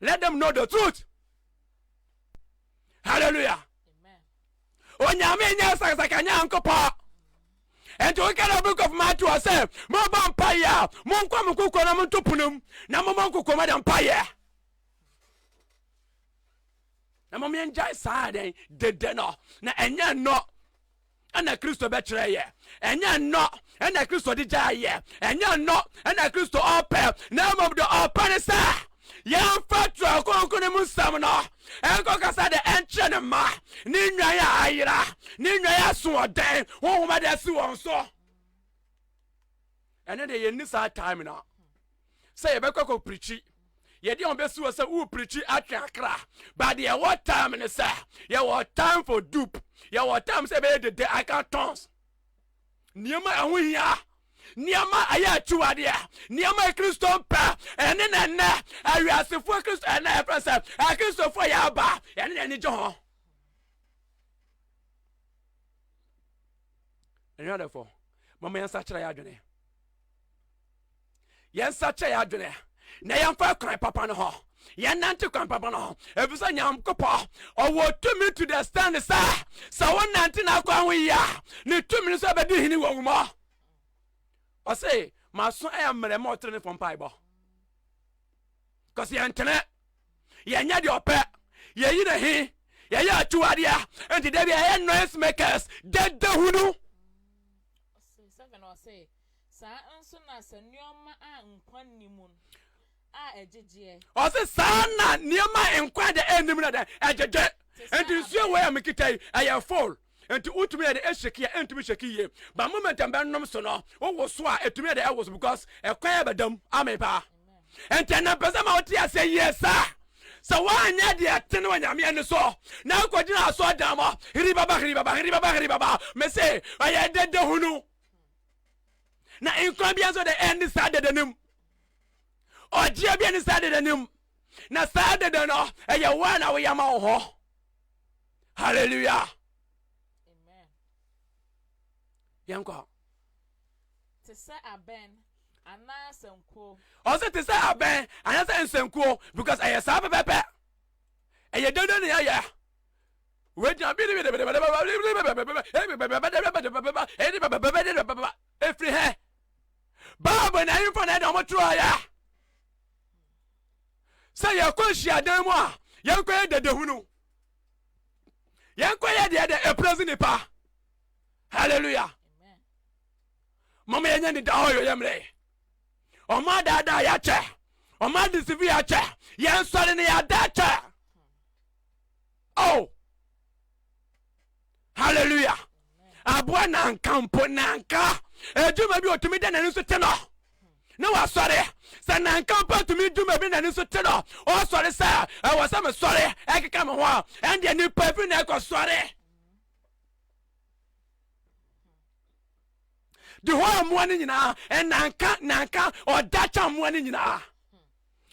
let them know the truth hallelujah onyame nyɛ sakasaka nyankopɔ ɛnti woka na book of matthew sɛ mobɔ mpayɛ a monkɔ mo kokɔ na monto ponom na momɔ nkokɔma dɛ mpayɛ na mom yɛngyae saa dɛn dede no na ɛnyɛ nnɔ na Kristo bɛkyerɛ yɛ. Ɛnyɛ nnɔ na Kristo de gyae yɛ. Ɛnyɛ nnɔ na Kristo ɔpɛ, na mmom de ɔpɛ ne sɛ yɛmfa Twerɛ Kronkron no mu nsɛm no nkɔkasa de nkyerɛ ne mma, ne nnwan a ayera, ne nnwan a asoɔden honhom de asi wɔn so. Ɛne de yɛnni saa time no. sɛ yɛbɛkɔ akɔ pirikyi yɛde wɔn bɛsi hɔ sɛ wo pirikyi atwe akra but deɛ ɛwɔ time ne sɛ yɛwɔ time for dupe yɛwɔ time sɛ ɛbɛyɛ dede i can tons nneɛma ɛho hia nneɛma ɛyɛ akyiwadeɛ nneɛma yɛ kristo mpɛ ɛne na ɛnɛ awiasefoɔ kristo ɛnɛ ɛfrɛ sɛ akristofoɔ yɛ aba ɛne na ɛne gye ho ɛnwadɛfoɔ mama yɛnsa kyerɛ yɛ adwene Yɛnsakyera yɛn adwene na yɛmfa kwan papa no ho yɛnante kwan papa no ho ɛfiri sɛ nyankopɔ ɔwɔ tumi to the stand sɛ sɛ wonante n'akwan ho yie a ne tumi no sɛ bɛdi hene wɔ wo mɔ ɔse maso ɛyɛ mmerɛ ma ɔtere ne fɔ mpaebɔ kɔsɛ yɛntene yɛnyɛ deɛ ɔpɛ yɛyi ne he yɛyɛ akyiwadeɛ nti da bi ɛyɛ noise makers dada hunu Saa ara nso na sɛ nneɛma a nkwa nni mu a ɛgyegyeɛ. Ɔse saa ara na nneɛma a nkwa deɛ ɛnni mu no ɛdɛn? Ɛgyegye. Nti nsuo wei a mekita yi, ɛyɛ full. Nti wotumi yɛ dɛn ɛhyɛki a, ɛntumi hyɛki yie. But moment a mɛnom so no, wowoso a, ɛtumi yɛ dɛn ɛwoso because ɛkwan a ɛbɛda mu. Amen paa. Nti ɛnna mpɛ sɛ ma wote aseɛ yie saa. Sɛ woanyɛ deɛ ɛtene wɔ Nyame ani so na wokɔgyina asɔɔdan mɔ, hiri baba, hiri baba, hiri baba, hiri baba, mese ɛyɛ dede hunu. na nkwa bia nso de ɛne saa dede no mu ɔgyeɛ bia ne saa dede no mu na saa dede no ɛyɛ wo a na woyɛ ma wo ho hallelujah yɛnkɔ te sɛ abɛn anaa sɛnkuo ɔsɛ te sɛ abɛn anaasɛ nsɛnkuo because ɛyɛ saa pɛpɛpɛ ɛyɛ dede ne ɛyɛ ɛfiri hɛ bible na ɛmfa na ɛde ɔmo toroɔyɛ sɛ yɛkɔ nhyiadan mu a yɛnkɔ yɛ dadahunu yɛnkɔ yɛ deɛ dɛ ɛprɛsi nipa halleluya mama yɛnyɛ ne da hɔ yɛyɛ mmerɛ ɔmo adaadaa yɛakyɛ ɔmo adisifi yɛakyɛ yɛnsɔre ne yɛada kyɛ oh hallelujah aboa nanka mpo nanka adwuma bi otumi da n'ani so te no ne wasɔre sɛ nanka mpo atumi dwuma bi n'ani so te no ɔsɔre sɛ ɛwɔ sɛ mesɔre ɛkeka me ho a ɛndeɛ nipa bi na ɛkɔ sɔre de hɔ mmoa no nyinaa ɛnanka nanka ɔda kya mmoa no nyinaa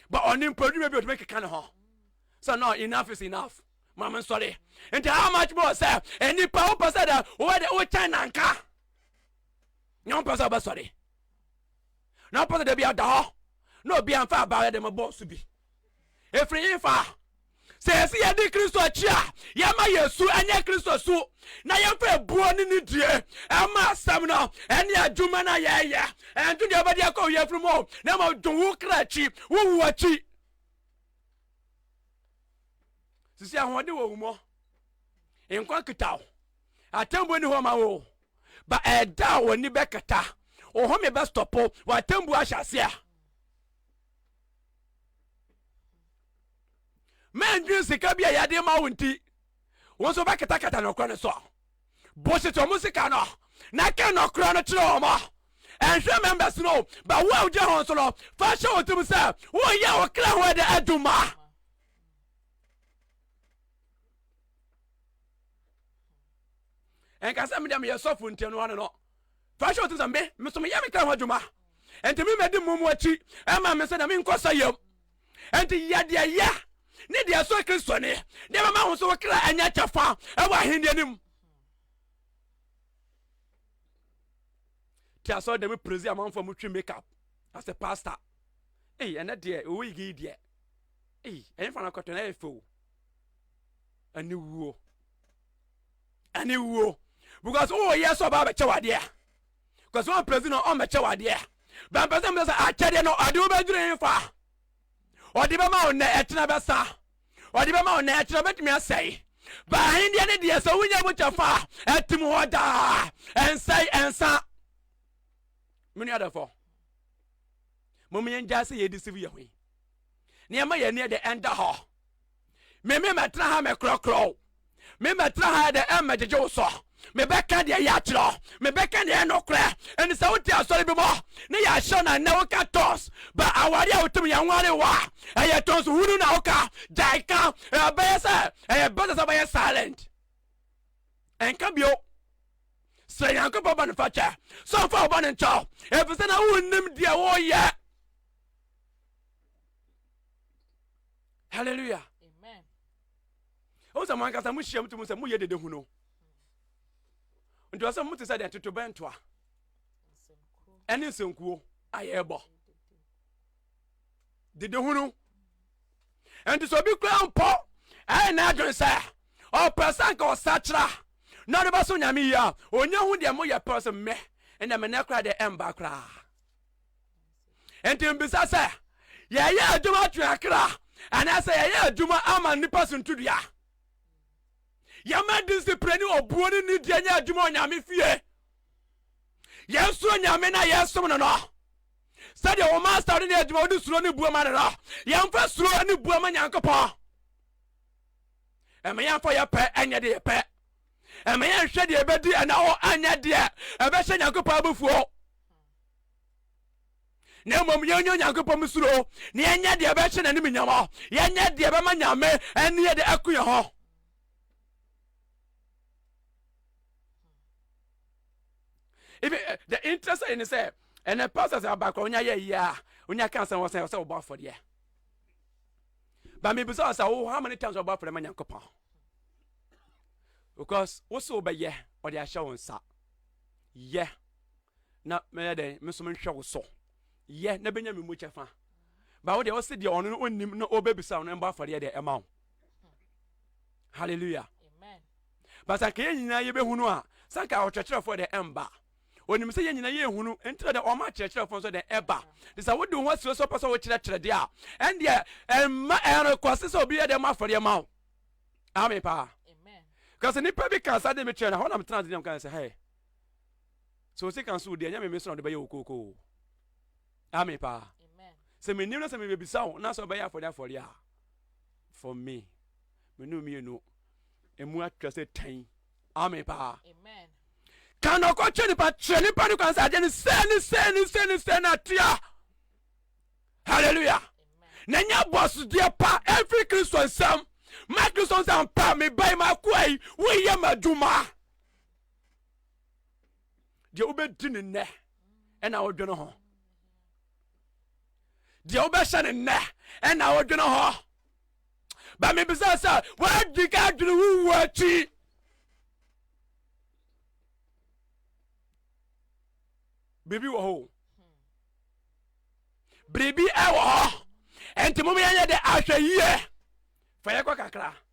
ba ɔne mpo adwuma bi otumi keka ne ho sɛ no enough is enough ma me nsɔre nti how much more sɛ nnipa wopɛ sɛ dɛ wowɛ dɛ wokyɛn nanka nyɛ wopɛ sɛ wobɛsɔre na wopɛ sɛ da bi ada hɔ na obi amfa abaayɛ de mabɔ so bi ɛfiri he fa sɛ ɛsi yɛde kristo akyi a yɛma yɛ su ɛnyɛ kristo su na yɛmfa ebuo ne ne die ɛma asɛm no ɛne adwuma no a yɛyɛ ɛnto deɛ wobɛde akɔ wo yɛfiri mu na ma dwo wo kra akyi wowu akyi sisi ahoɔden wɔ wo mu nkwa kita wo atembo ni hɔ ma wo ba ɛda a wɔni bɛkata ohome bɛstɔpo wɔ atembo ahyɛ ase a mɛndwene sika bi a yɛde ma wo nti wo nso bɛkatakata nokora no so a boset wɔn sika no na ka nɔkorɛ no kyerɛ wɔn. Ɛnhwɛ members no ba wo a wogyina ho so no, fa hyɛ wo tirim sɛ woyɛ wo kra ho ɛdɛ adwuma. Ɛnka sɛ medeɛ meyɛ sɔfo nti ɛno ano no fa hyɛ wo tirim sɛ me meso meyɛ me kra ho adwuma ɛnti me mɛdi mmom akyi ɛma me sɛ na menkɔ sa yam Enti yɛ deɛ ɛyɛ ne deɛ ɛsɔ Kristoni de bɛma ho so wo kra anya kyɛfa wɔ ahenni anim. Ti asɔre dɛm prezi amanfoɔ mo twi makeup as a pastor. Ei, ɛnɛ deɛ owó igi yi deɛ. Ei, ɛyɛ fana kɔtɔ na ɛyɛ fɛw. Ɛne wuo. Ɛne wuo. Because owó yɛ sɛ ɔbaa bɛkyɛ wadeɛ a. kɔsɛ wɔn pɛrɛsi na wɔn bɛkyɛ wɔ adeɛ a bɛn pɛrɛsi na wɔn sɛ akyɛdeɛ no ɔde wo bɛdwiri nfa ɔde bɛma wo nnɛ ɛkyerɛ bɛsa ɔde bɛma wo nnɛ ɛkyerɛ bɛtumi asɛe baahin deɛ ne deɛ sɛ wonya mu kyɛ fa ɛtim hɔ daa ɛnsɛe ɛnsa mene adafo mo mo yɛn gyaa sɛ yɛdi sivu yɛ ho yi nneɛma yɛ ne yɛ de ɛnda hɔ me me mɛtena ha mɛkorɔkorɔ wo me mɛtena ha ɛdɛ ɛmmɛgyegye wo so mebɛka deɛ yɛ akyerɛ mebɛka deɛ ɛnokorɛ ɛne sɛ wote asɔre bi mɔ ne yɛ ahyɛ no ɛnɛ woka tons ba aware a wotum yɛ nware wɔ a ɛyɛ tons hunu na woka gyae ka ɛbɛyɛ sɛ ɛyɛ bɛsɛ sɛ bɛyɛ silent ɛnka bio sɛ nyankopɔn ba no fa kyɛ sɛ ɔfa ɔba no nkyɛw ɛfisɛ na wonnim deɛ woyɛ hallelujah amen ɛhu sɛ mo ankasa mohyia mu tumi sɛ moyɛ dede hu no nti ɔsɛ mote sɛ deɛ totobɛntoa ɛne nsɛnkuo a yɛrebɔ dede hu no ɛnti sɛ obi kura mpɔ ɛyɛ n'adwene sɛ ɔpɛ sɛ nka ɔsakyera na ɔde bɛso nyame yi a ɔnya hu deɛ moyɛ pɛ sɛ mɛ ɛnɛ menɛ koraa deɛ ɛmba koraa Enti mibisa sɛ, yɛyɛ adwuma atwe akra anaasɛ yɛyɛ adwuma ama nnipa so ntudua? Yɛma disipire ne obuo ne nidie nyɛ adwuma wɔ Nyame fie. Yɛsuro Nyame na yɛsom no no. Sɛdeɛ wo master no ne adwuma wode suro ne buo ma no no, yɛmfa suro ne buo ma Nyankopɔn. Ɛma yɛmfa yɛ pɛ ɛnyɛ deɛ pɛ. Ɛma yɛnhwɛ deɛ ɛbɛdi ɛna hɔ anyɛ deɛ ɛbɛhyɛ Nyankopɔn abufuo. na mmom yɛnyɛ onyankopɔn mu suro na yɛnyɛ deɛ ɛbɛhyɛ n'anim nyama yɛnyɛ deɛ ɛbɛma nyame ɛne yɛde ɛko yɛ hɔ even uh, the interest in is uh, and the pastors are back on your yeah on your cancer was say so about for the but maybe so say oh how many times about for the man yankopon because what's over yeah or the assurance yeah na mɛyɛ dɛn me nso menhwɛ wo so yɛ na bɛnya me mu kyɛfa ba wo deɛ ɔse deɛ ɔno no ɔnnim na ɔbɛbisa no mbɔ afɔreɛ deɛ ɛma wo halleluya ba sɛ anka yɛ nyinaa yɛbɛhunu a sɛ anka ɔkyerɛkyerɛfoɔ deɛ ɛmba onim sɛ yɛ nyina yɛ hunu nti na dɛ ɔma akyerɛkyerɛfoɔ nso dɛ ɛba te sɛ wode ho asuro sɛ ɔpɛ sɛ wokyerɛkyerɛ deɛ a ɛndeɛ ɛmma ɛrekɔse sɛ obi yɛ dɛ ma afɔdeɛ ma wo ame paa kasɛ nnipa bi ka saa de mekyerɛ no hɔ na metena ase deɛ mka sɛ hɛ sɛ ɔsi kan so deɛ ɛnyɛ meme so na ɔde bɛyɛ wo kookoo ame paa sɛ menim na sɛ mebɛbisa wo na sɛ ɔbɛyɛ afɔde afɔde a for me mene mmienu ɛmu atwa sɛ tan ame paa ka na ɔkɔtwe nipa kyerɛ nipa no kwan sɛ adeɛ no sɛ ne sɛ ne sɛ ne sɛ na atia halleluya na nya bɔsodeɛ pa ɛmfiri kristo nsɛm ma kristo nsɛm pa mebae maakoa yi woyɛ m'adwuma deɛ wobɛdi no nnɛ ɛna wodwene ho deɛ wobɛhyɛ no nnɛ ɛna wodwene ho ba mebisa sɛ woadi ka adwene wo wu akyi biribi wɔ hɔ biribi ɛwɔ hɔ ɛnti mom yɛnyɛ dɛ ahwɛ yie fa yɛkɔ kakra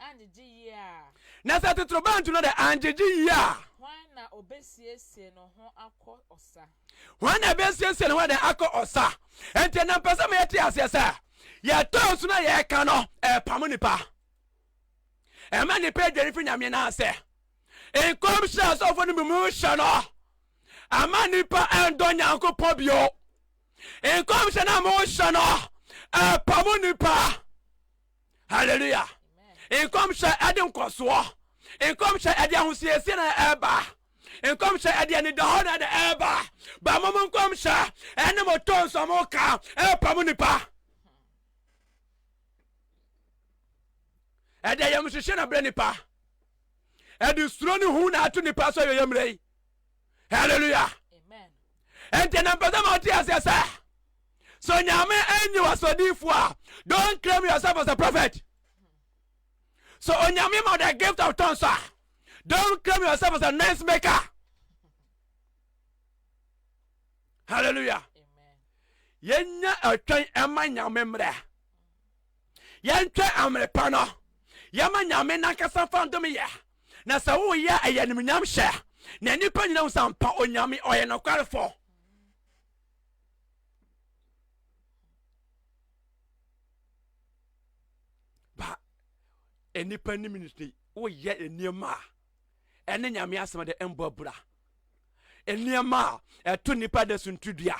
anngyegye yie a. Na sɛ totorobɛnto no dɛ anngyegye yie a. Hwan na obesiesie no ho akɔ ɔsa. Hwan na ebesiesie ne ho adɛn akɔ ɔsa. Enti ɛnna mpɛ sɛ ma yɛte aseɛ sɛ yɛtɔ nsu na yɛka no ɛrepamo nnipa. Ɛma nnipa adwane firi Nyame no ase. Nkɔmhyɛ asɔfoɔ no bi mu hyɛ no ama nnipa ɛndɔ Nyankopɔn bio. nkɔmhyɛ no a mohyɛ no ɛpa mo nipa hallelujah nkɔmhyɛ ɛde nkɔsoɔ nkɔmhyɛ ɛde ahosiesie na ɛba nkɔmhyɛ ɛde anidahɔ na ɛde ɛba ba mo mo nkɔmhyɛ ɛne mo tɔ nsɔ mo ka ɛpa mo nipa ɛde yɛm hyehyɛ na brɛ nipa ɛde suro ne hu na ato nipa so yɛyɛ mmerɛ yi hallelujah ɛnti na mpɛ sɛ ma wote aseɛ sɛ so nyame anyi wasɔdiifoɔ a don't claim yourself as a prophet so onyame ma the gift of tongues a don't claim yourself as a noise maker hallelujah yɛnya ɛtwɛn ɛma nyame mmerɛ Yɛntwɛ amere pa no, yɛma Nyame nankasa mfa ndome yɛ, na sɛ woyɛ a ɛyɛ animuonyam hyɛ, na nnipa nyina hu sɛ ampa Onyame ɔyɛ nokwarefɔ. Ba, nnipa nim no nti woyɛ nneɛma a. ɛne nyame asɛm de mbɔ abura nneɛma a ɛto nnipa da so ntudua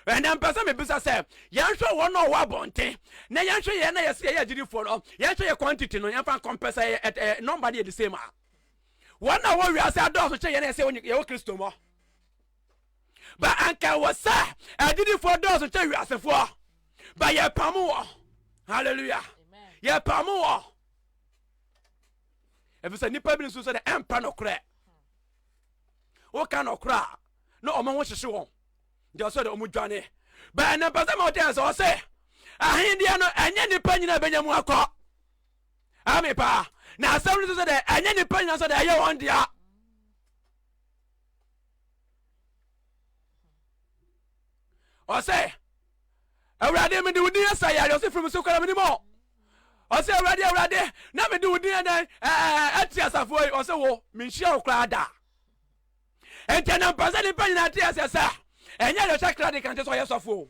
ɛnɛ mpɛ sɛ mebisa sɛ yɛnhwɛ wɔn a ɔwɔ abɔnten na yɛnhwɛ yɛn na yɛsɛ yɛyɛ agyidifoɔ no yɛnhwɛ yɛ quantity no yɛmfa nkɔmpɛ sɛ yɛ nɔmba no yɛ de same a wɔn a wɔwɔ wiase adɔɔso kyɛ yɛn na yɛsɛ yɛwɔ kristo mɔ ba anka wɔ sɛ agyidifoɔ dɔɔso kyɛ wiasefoɔ ba yɛpam wɔ hallelujah yɛpam wɔ efisɛ nnipa bi nso sɛ dɛ ɛmpɛ nokorɛ woka nokorɛ a na ɔmo ho hyehye wɔn deɛ ɔsɛ dɛ ɔmo dwane bɛn ne mpɛsɛ ma ɔtɛn sɛ ɔsɛ ahendeɛ no ɛnyɛ nnipa nyinaa bɛnya mu akɔ ɛme paa na asɛm no sɛ dɛ ɛnyɛ nnipa nyinaa sɛ dɛ ɛyɛ wɔn dea Ɔsɛ, Awurade, mede wo din asa yare, ɔsɛ firi me so kɔra, menim ɔ. Ɔsɛ, Awurade, Awurade, na mede wo din ɛdɛn ɛte asafoɔ yi, ɔsɛ wo, menhyia wo koraa da. Ɛntɛ na mpɛ sɛ nnipa nyinaa te aseɛ sɛ, ɛnyɛ deɛ ɔhyɛ kra de kante sɛ ɔyɛ sɔfoɔ,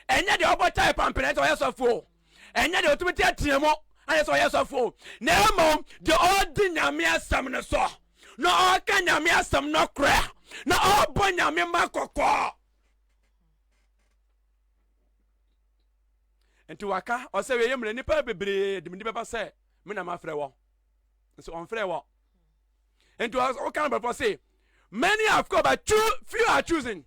ɛnyɛ deɛ ɔbɔ tae pampene sɛ ɔyɛ sɔfoɔ, ɛnyɛ deɛ ɔtumi teatea mu ayɛ sɛ ɔyɛ sɔfo na mmom deɛ ɔdi nyame asɛm no so na ɔka nyame asɛm no korɛ na ɔbɔ nyame ma kɔkɔ nti waka ɔsɛ wei yɛ mmerɛ nnipa bebree de mede bɛba sɛ me na mafrɛ wɔ nso ɔmfrɛ wɔ nti woka no bɛfɔ se many have called but few are choosing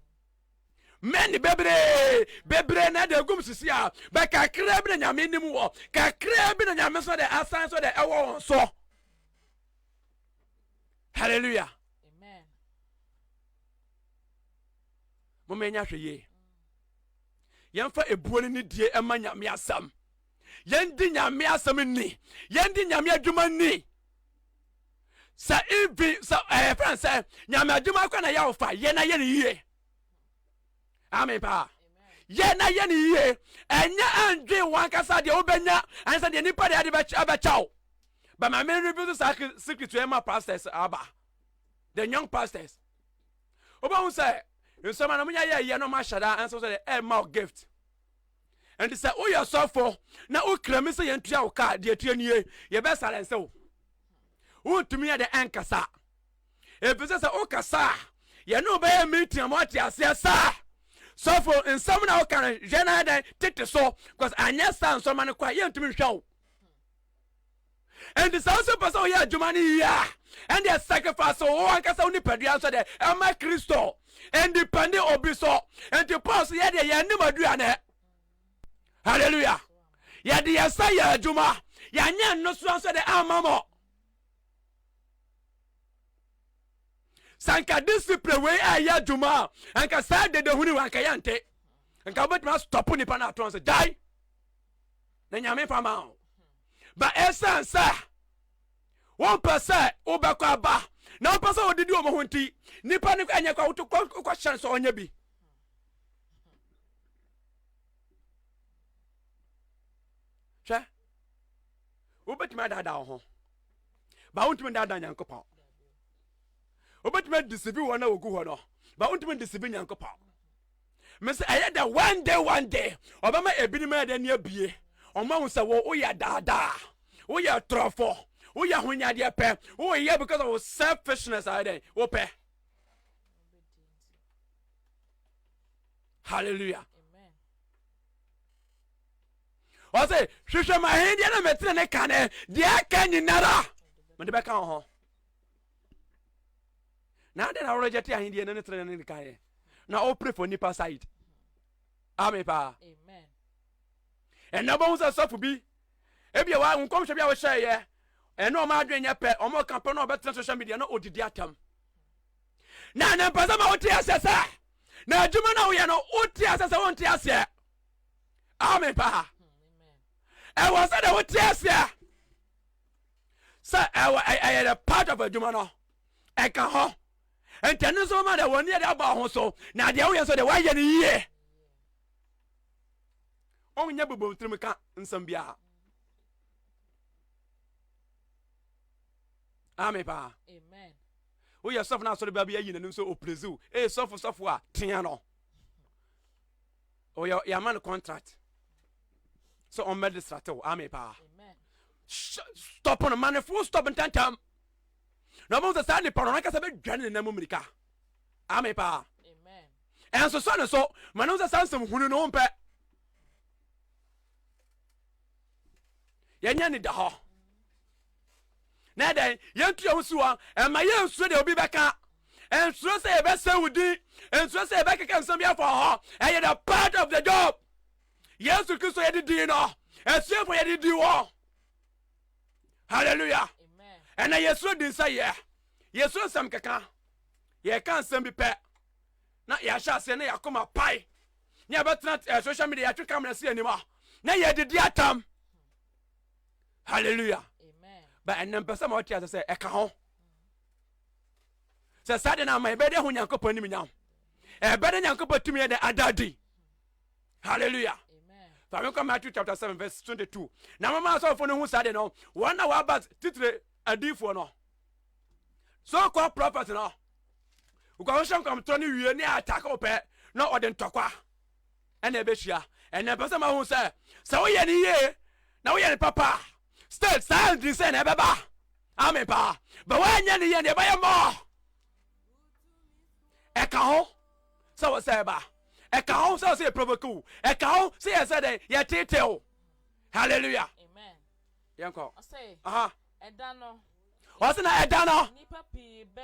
mɛne bebree bebree na ɛde egum sisi a bɛ kakraa bi na nyame nim wɔ kakraa bi na nyame nso de asan so de ɛwɔ wɔn so hallelujah amen mo mɛ nya hwɛ yie yɛmfa ebuo ne ne die ɛma nyame asɛm yɛndi nyame asɛm ni yɛndi nyame adwuma ni sɛ even sɛ ɛyɛ fɛn sɛ nyame adwuma kora na yɛ ɔfa yɛ na yɛ ne yie amen paa yɛ na yɛ ne yie ɛnyɛ ɛndwen wɔn ankasa deɛ wobɛnya ɛnsɛ deɛ nipa deɛ ɛde ɛbɛkyɛw bɛma me reveal saa secret yɛ ma pastors aba the young pastors wobɛhu sɛ nsɛm a na monyɛ yɛ yɛ no mahyɛ daa ɛnsɛ sɛ ɛma gift Enti sɛ woyɛ ɔsɔfo na wokra mi sɛ yɛntua wo ka a, deɛ ɛteɛ nie, yɛbɛsare nse wo. Wontumi yɛ dɛ ɛnkasa. Ɛfiri sɛ sɛ wokasa a, yɛne wo bɛyɛ meeting ama woate aseɛ sɛ sɔfo nsɛm na woka no hwɛ no ayɛ dɛn tete so, cause anyɛ saa nsɔrema no kɔ a, yɛntumi nhwɛ wo. ɛnti sɛ wosɛ pɛ sɛ woyɛ adwuma no yie a ɛndeɛ sacrifice wo ankasa wo nipadua nso deɛ ɛma kristo independent obi so ɛnti paul so yɛdeɛ yɛnim aduane hallelujah yɛde yɛsa yɛ adwuma yɛanyɛ nnosoa nso deɛ ama mɔ sanka discipline wei ɛyɛ adwuma a nka saa dedehuni wa nka yɛnte nka wobɛtumi astɔpo nipa no atɔn sɛ gyae na nyame fa ma wo ba ɛsiane sɛ wompɛ sɛ wobɛkɔ aba na wopɛ sɛ wodidi wɔn ho nti nipa no ɛnyɛ kɔ woto kɔhyɛn sɛ ɔnyɛ bi hwɛ wobɛtumi adaadaa wo ho ba wontumi daadaa nyankopɔn wobɛtumi adisibi wɔn na wɔgu hɔ no ba wontumi disibi nyankopɔn Mese ɛyɛ dɛ one day one day ɔbɛma ebinom ayɛ dɛ ne abie ɔmo ahu sɛ wo woyɛ daadaa woyɛ torɔfo woyɛ honyadeɛ pɛ woyɛ because of selfishness ayɛ dɛn wopɛ hallelujah ɔse hwehwɛ mahendeɛ na metene ne kane deɛ aka nyinara mede bɛka wo ho na adɛn na woregyɛ te ahendeɛ no ne trenɛ no nekaeɛ na wopere fo nipa side ame paa ɛnna wobɛhu sɛ sɔfo bi ebia wa nkɔmhyɛ bi a wohyɛeɛ ɛne ɔma adwene nyɛ pɛ ɔma ɔka pɛ na ɔbɛtena social media na ɔdidi atam na ne mpɛ sɛ ma wote aseɛ sɛ na adwuma no a woyɛ no wote aseɛ sɛ wonte aseɛ ame paa ɛwɔ sɛ dɛ wote aseɛ sɛ ɛwɔ ɛyɛ the part of adwuma no ɛka ho nti ɛno nso ma deɛ wɔn yɛ de aba ho so na deɛ woyɛ nso deɛ wɔayɛ no yie ɔnyɛ bobom tirim ka nsɛm biara ame paa woyɛ sɔfo no asɔre baa bi ayi n'anim sɛ ɔpresiw ee sɔfo sɔfo a tea no ɔyɛ yɛ ama no contract sɛ ɔmmɛ de srate wo ame paa stop no ma ne fo stop ntantam na ɔbɛhu sɛ saa nipa no nankasa bɛdwane ne nam mmirika ame paa ɛnso sɔ ne so ma ne ho sɛ saa nsɛm hunu no wompɛ yɛnyɛ ne da hɔ na ɛdɛn yɛntu yɛn ho si hɔ ɛma yɛnsuro deɛ obi bɛka ɛnsuro sɛ yɛbɛsɛ wo din ɛnsuro sɛ yɛbɛkeka nsɛm bi afa hɔ ɛyɛ the part of the job yesu kristo yɛde din no asuafo yɛde di wɔ hallelujah ɛna yɛsuro din sɛ yɛ yɛsuro nsɛm keka yɛka nsɛm bi pɛ na yɛahyɛ aseɛ na yɛakoma pae ne yɛbɛtena eh, social media yɛatwe camera si anim a na yɛdidi atam hallelujah but ɛnna mpɛ sɛ ma ɔte ase sɛ ɛka ho sɛ saa de no ama ɛbɛyɛ dɛ ho nyankopɔn anim nya ho ɛbɛyɛ dɛ nyankopɔn tumi yɛ dɛ ada adi hallelujah fa me nkɔ matthew chapter seven verse twenty two. na mama asɔfoɔ no hu saa de no wɔn na wɔaba titire adiifoɔ no so kɔ prɔfɛt no wokɔhwehwɛ nkɔmtorɔ no wie ne atake wo pɛ na ɔde ntɔkwa Ɛna ɛbɛhyia. Ɛna ɛpɛ sɛ mahu sɛ, sɛ woyɛ no yie na woyɛ no papa a, still saa ntin sɛ na ɛbɛba. Amen paa. Bɛ woanyɛ no yie no, ɛbɛyɛ more. Ɛka ho sɛ wɔ sɛ ɛba. Ɛka ho sɛ wɔ sɛ yɛ provoke wo. Ɛka ho sɛ yɛ sɛ dɛn yɛ tete wo. Hallelujah. Amen. Yɛnkɔ. Ɔsɛ. Aha. Ɛda no. Ɔsɛ na ɛda no. Nipa pii bɛ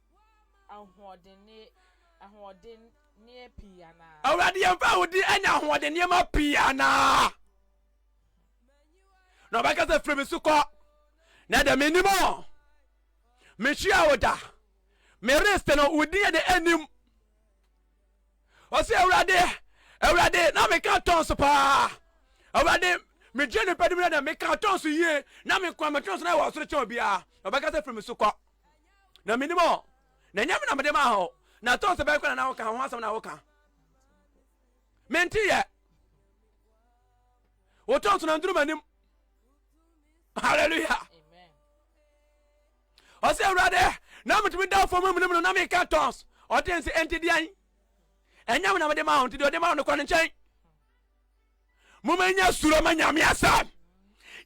ahoɔdenneɛ pii anaa? Awurade yɛmfa wo din anya ahoɔdenneɛ ma pii anaa? Na ɔbɛka sɛ firi me so kɔ na dɛ menim o mehyia wo da mereste no wo din yɛde anim ɔsɛ awurade awurade na meka tɔn so paa awurade megye nipa nim na dɛ meka tɔn so yie na mekoa metɔn so na ɛwɔ ɔsoro kyɛn obiara na ɔbɛka sɛ firi me so kɔ na menim ɔ na ɛnyɛ me na mede maa hɔ na ɛtɔ sɛ bɛyɛ kora na woka ho asɛm na woka mente yɛ wotɔ nso na nduru m'anim hallelujah ɔsɛ awurade na metumi da fam mu no na meka tɔns ɔte nse ɛnti deɛn ɛnyɛ me na mede ma ho nti deɛ ɔde ma ho no kɔ ne nkyɛn moma nya suro ma nyame asɛm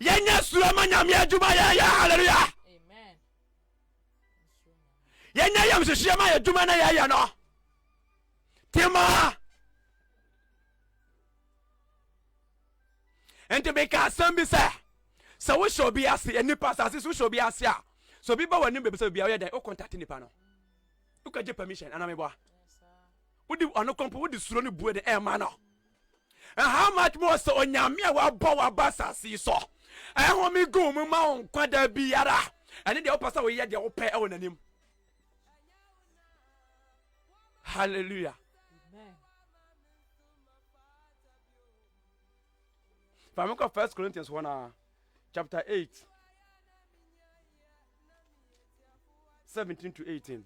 yɛnyɛ suro ma nyame adwuma yɛyɛ hallelujah yɛnyɛ yɛm hyehyeɛ ma yɛdwuma na yɛyɛ no timaa nti meka asɛm bi sɛ sɛ wohyɛ obi ase nnipa asase so wohyɛ obi ase a sɛ obi ba w'anim baabi sɛ obi a woyɛ dɛn wokontate nipa no wokɔgye permission anameboa wode ɔno kɔmpo wode suro no bue de ɛma no And how much more sɛ onyame a wabɔ waba asase yi so ɛhome gu mu ma wo nkwa da biara ɛne deɛ wopɛ sɛ woyɛ deɛ wopɛ ɛwɔ n'anim hallelujah Vamos com 1 Corinthians 1, ah, chapter 8, 17 to 18.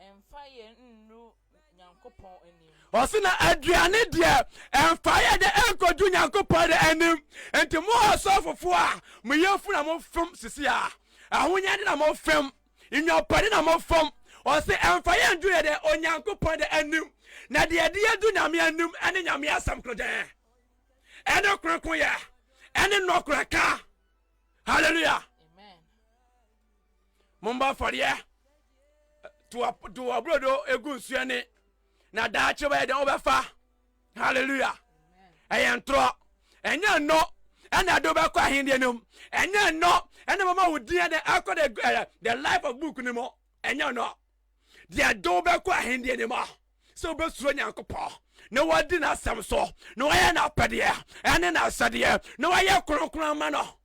Ɛmfa yɛ nnuru Nyankopɔn anim. Ɔse na aduane deɛ ɛmfa yɛ de nkɔdu Nyankopɔn anim. Nti mo asɔfofoɔ a mo yafunu na mo fom sisi a, ahonyade na mo fem, nnwapade na mo fom, ɔse ɛmfa yɛ ndu yɛ dɛ Onyankopɔn dɛ anim. Na deɛ ɛde yɛ du Nyame anim ɛne Nyame asɛm koro dɛ, ɛne kronkron yɛ, ɛne nɔkorɛ ka. Hallelujah. mombɔ afɔreɛ to ɔbrodo ɛgu nsuo ne na daakye bɛyɛ dɛn wobɛfa halleluya ɛyɛ ntorɔ ɛnyɛ nnɔ ɛna ɛde wobɛkɔ ahendeɛ no mu ɛnyɛ nnɔ ɛna mama wo din ɛde akɔ the, uh, the life of book no mu ɛnyɛ nnɔ deɛ ɛde wobɛkɔ ahendeɛ no mu sɛ wobɛsuro nyankopɔn na wadi n'asɛm so na wayɛ n'apɛdeɛ ɛne n'asɛdeɛ na wayɛ kronkron ama no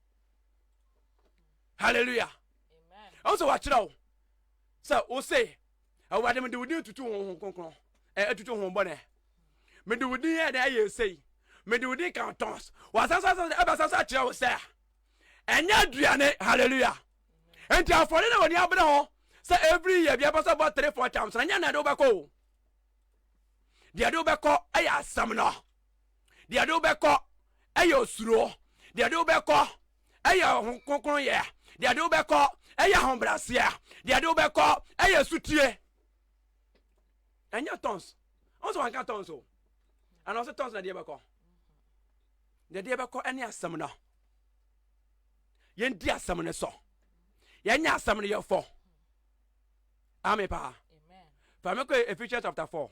hallelujah ɛwɔ sɛ wakyerɛ wo sɛ wo se awurade mede wo din tutu ho ho kronkron atutu ho bɔne mede wo din yɛ dɛ ɛyɛ ɛsei mede wo din ka tɔns wasan so asan ɛbɛsan so akyerɛ wo sɛ ɛnyɛ aduane hallelujah nti afɔre na wɔde abere ho sɛ every year biara sɛ bɔ three four times na nyɛ na ɛde wobɛkɔ o deɛ ɛde wobɛkɔ ɛyɛ asɛm no Deɛ ɛde wo bɛkɔ yɛ osuro. Deɛ ɛde wo bɛkɔ yɛ ho kronkronyɛ. Deɛ ɛde wo bɛkɔ yɛ ahobrɛaseɛ. Deɛ ɛde wo bɛkɔ yɛ sutie. Ɛnyɛ tons. Ɔn sɛ wanka tons o. Ana ɔsɛ tons na deɛ bɛkɔ. Deɛ deɛ bɛkɔ ɛne asɛm no. Yɛndi asɛm no so. Yɛnyɛ asɛm no yɛfɔ. Ame paa. Fa me kɔ Ephesians chapter 4.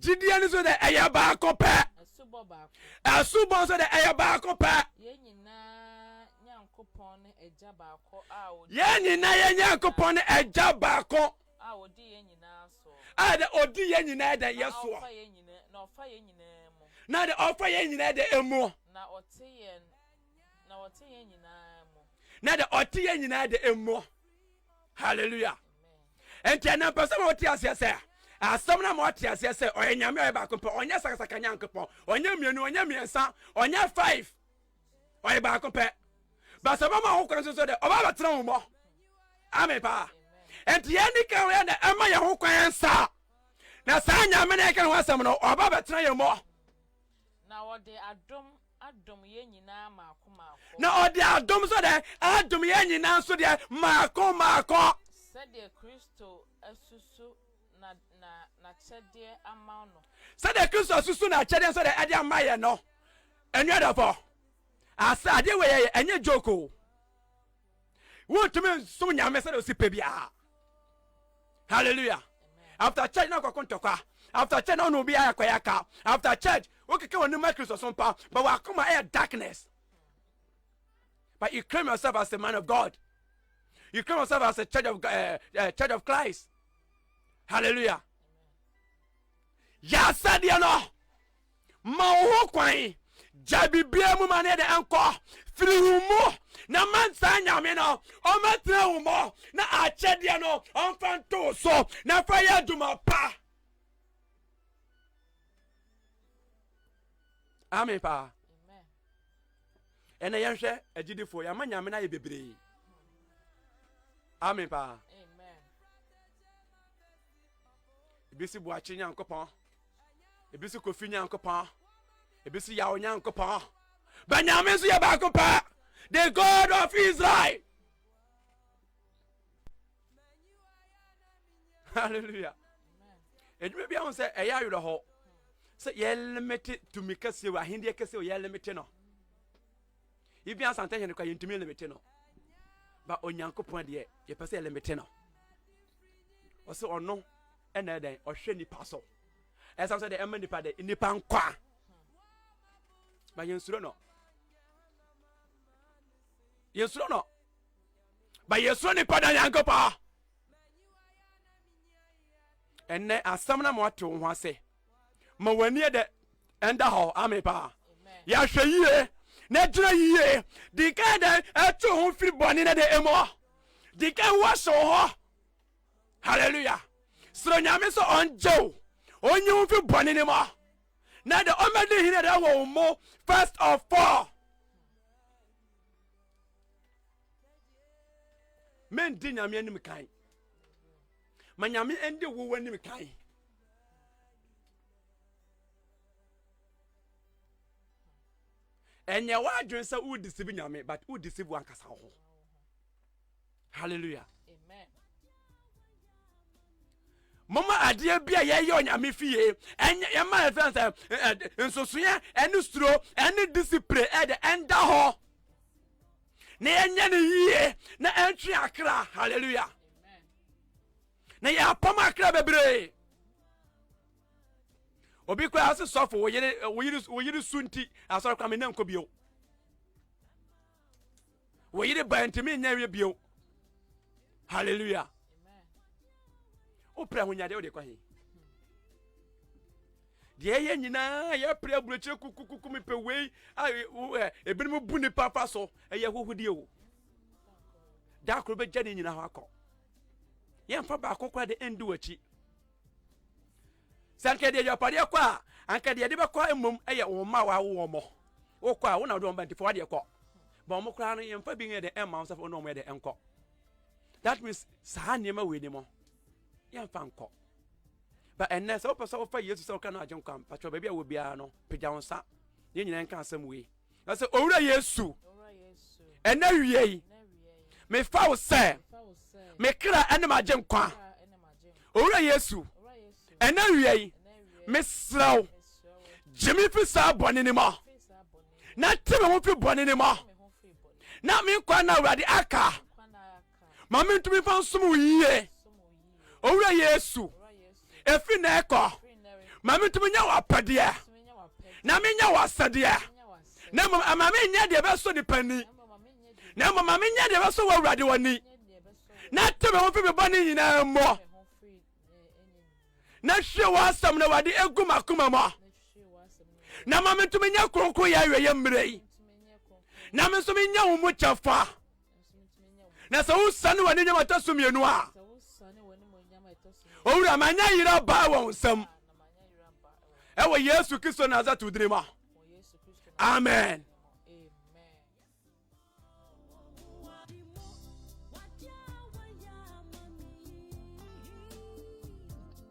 gyidie no nso dɛ ɛyɛ baako pɛ asubɔ nso dɛ ɛyɛ baako pɛ yɛn nyinaa nyankopɔn ne agya baako a ɔdi yɛn nyinaa yɛn nyankopɔn ne agya baako a ɔdi yɛn nyinaa soɔ a dɛ ɔdi yɛn nyinaa dɛ yɛ soɔ na ɔfa yɛn nyinaa mu na dɛ ɔfa yɛn nyinaa dɛ ɛmuɔ na ɔte yɛn na ɔte yɛn nyinaa mu na dɛ ɔte yɛn nyinaa dɛ ɛmuɔ hallelujah ɛnti ɛnɛ mpɛ sɛ ma wote aseɛ sɛ asɛm no ma woate aseɛ sɛ ɔyɛ nyame ɔyɛ baako pɛ ɔnyɛ sakasaka nyankopɔn ɔnyɛ mmienu ɔnyɛ mmiɛnsa ɔnyɛ five ɔyɛ baako pɛ basɛ bɛma ho kwan nso so dɛ ɔba bɛtena wo mɔ ame paa ɛnti yɛne ka ho yɛ dɛ ɛma yɛ ho kwan nsa na saa nyame no ɛka ne ho asɛm no ɔba bɛtena yɛ mɔ na wɔde adom Adom yɛn nyinaa mmaako mmaako. Na ɔde adom nso dɛn? Adom yɛn nyinaa nso deɛ mmaako mmaako. Sɛdeɛ Kristo asusu na na n'akyɛdeɛ ama no. Sɛdeɛ Kristo asusu n'akyɛdeɛ nso deɛ ɛde ama yɛn no. Anuadɔfoɔ, asa adeɛ wei yɛyɛ ɛnyɛ joke o. wontumi nsom nyame sɛdeɛ ɔsi pɛ biara halleluya after church na kɔko ntɔkwa after church na ɔne obi ayɛ kɔyɛ ka after church wokeka wɔ nima kristo so mpa but wakoma ɛyɛ darkness but you claim yourself as a man of god you claim yourself as a church of, uh, uh, church of christ halleluya yɛ asɛdeɛ no Ma wo ho kwan. Gyae biribiara mu ma ne de nkɔ. Firi wo mu na ma saa Nyame no ɔmmɛtena wo mu na akyɛdeɛ no ɔmfa nto wo so na fa yɛ adwuma pa. Amen paa. Ɛnna yɛnhwɛ agyidifoɔ yɛama Nyame no ayɛ bebree. Amen paa. Ebi si boakye Nyankopɔn. ebi si kofi nyankopɔn ebi si yawo nyankopɔn banyame nso yɛ baako pɛ the god of israel hallelujah edwuma bi ahun sɛ ɛyɛ awerɛhɔ sɛ yɛlemete tumi kɛseɛ wɔ ahendeɛ kɛseɛ wɔ yɛlemete no ibi asante hene kwa yɛntumi lemete no ba onyankopɔn deɛ yɛpɛ sɛ yɛlemete no ɔsɛ ɔno Ɛna yɛ dɛn ɔhwɛ nipa so ɛsɛ sɛ de ɛma nipa de nipa nkwa ba yɛn suro no yɛn suro no ba yɛn suro nipa da yɛn nkɔpɔ ɛnɛ asɛm na mo ate wo ho ase ma wɔn ani yɛ dɛ ɛnda hɔ ame paa yɛahwɛ yie na gyina yie di kan dɛ ɛto ho firi bɔne na de ɛmɔ di kan wɔhyɛ wo hɔ hallelujah srɛ nyame sɛ ɔngye wo ɔnyi wo mfi bɔne no mu na de ɔmɛde hene dɛ wɔ wo mu first of all mendi nyame anim kan ma nyame ndi wo w'anim kan ɛnyɛ w'adwene sɛ wodisibi nyame but wodisibi wankasa ho hallelujah moma adeɛ bi a yɛyɛ onyame fie ɛnyɛ yɛma ɛfɛn sɛ nsosoeɛ ɛne suro ɛne disipline ɛde ɛnda hɔ na yɛnyɛ no yie na ɛntwe akra hallelujah na yɛapam akra bebree obi koraa se sɔfo wo yere su nti asɔre kwa me na nkɔ bio wo yere ba ntumi nyɛ wie bio hallelujah wopɛ ahonyadeɛ wode kɔ he deɛ ɛyɛ nyinaa yɛpere aburokyire kukukuku mepɛ wei ebinom bu nipa fa so ɛyɛ hohodie o da koro bɛgya ne nyina hɔ akɔ yɛmfa baako kora de ɛndi w'akyi Sɛ anka yɛde agyapadeɛ kɔ a, anka deɛ yɛde bɛkɔ mmom yɛ wɔn mma a wɔawo wɔn mo. Wokɔ a, wo na wode wɔn ba nti fa wadeɛ kɔ. Ba wɔn koraa no, yɛmfa bi nyɛ dɛ ɛmma wɔn sɛ fa wɔn wɔn yɛ dɛ nkɔ. That means saa nneɛma wei ni mo, yɛmfa nkɔ. Ba ɛnnɛ sɛ wopɛ sɛ wofa Yesu sɛ wokra no agyenkwa mpakyɛw baabi a wɔ biara no, pagya wo nsa na yɛn nyinaa nka asɛm wei. na sɛ owura yesu ɛnɛ wie yi mefa wo sɛ me kra ɛne magye nkwa owura yesu ɛnɛ wie yi mesrɛ wo gye me fi saa bɔne no mu na te me ho fi bɔne no mu na menkwa na awurade aka ma mentumi mfa nsom wo yie owura yesu ɛfiri na ɛkɔ ma mentumi nyɛ w'apɛdeɛ na menyɛ w'asɛdeɛ na mmom ama menyɛ deɛ ɛbɛsɔ nipa ni na mmom ma menyɛ deɛ ɛbɛsɔ wɔ awurade w'ani na te me ho mfiri me bɔne nyinaa mmɔ na hwie w'asɛm na wade egu m'akoma mu na ma mentumi nyɛ kronkron yɛ awieyɛ mmerɛ yi na me nso menyɛ wo mu kyɛfa na sɛ wosane w'aninyam ɛtɔ so mmienu a owura manya yera baa wɔn nsam ɛwɔ yesu kristo nasato dini mu a amen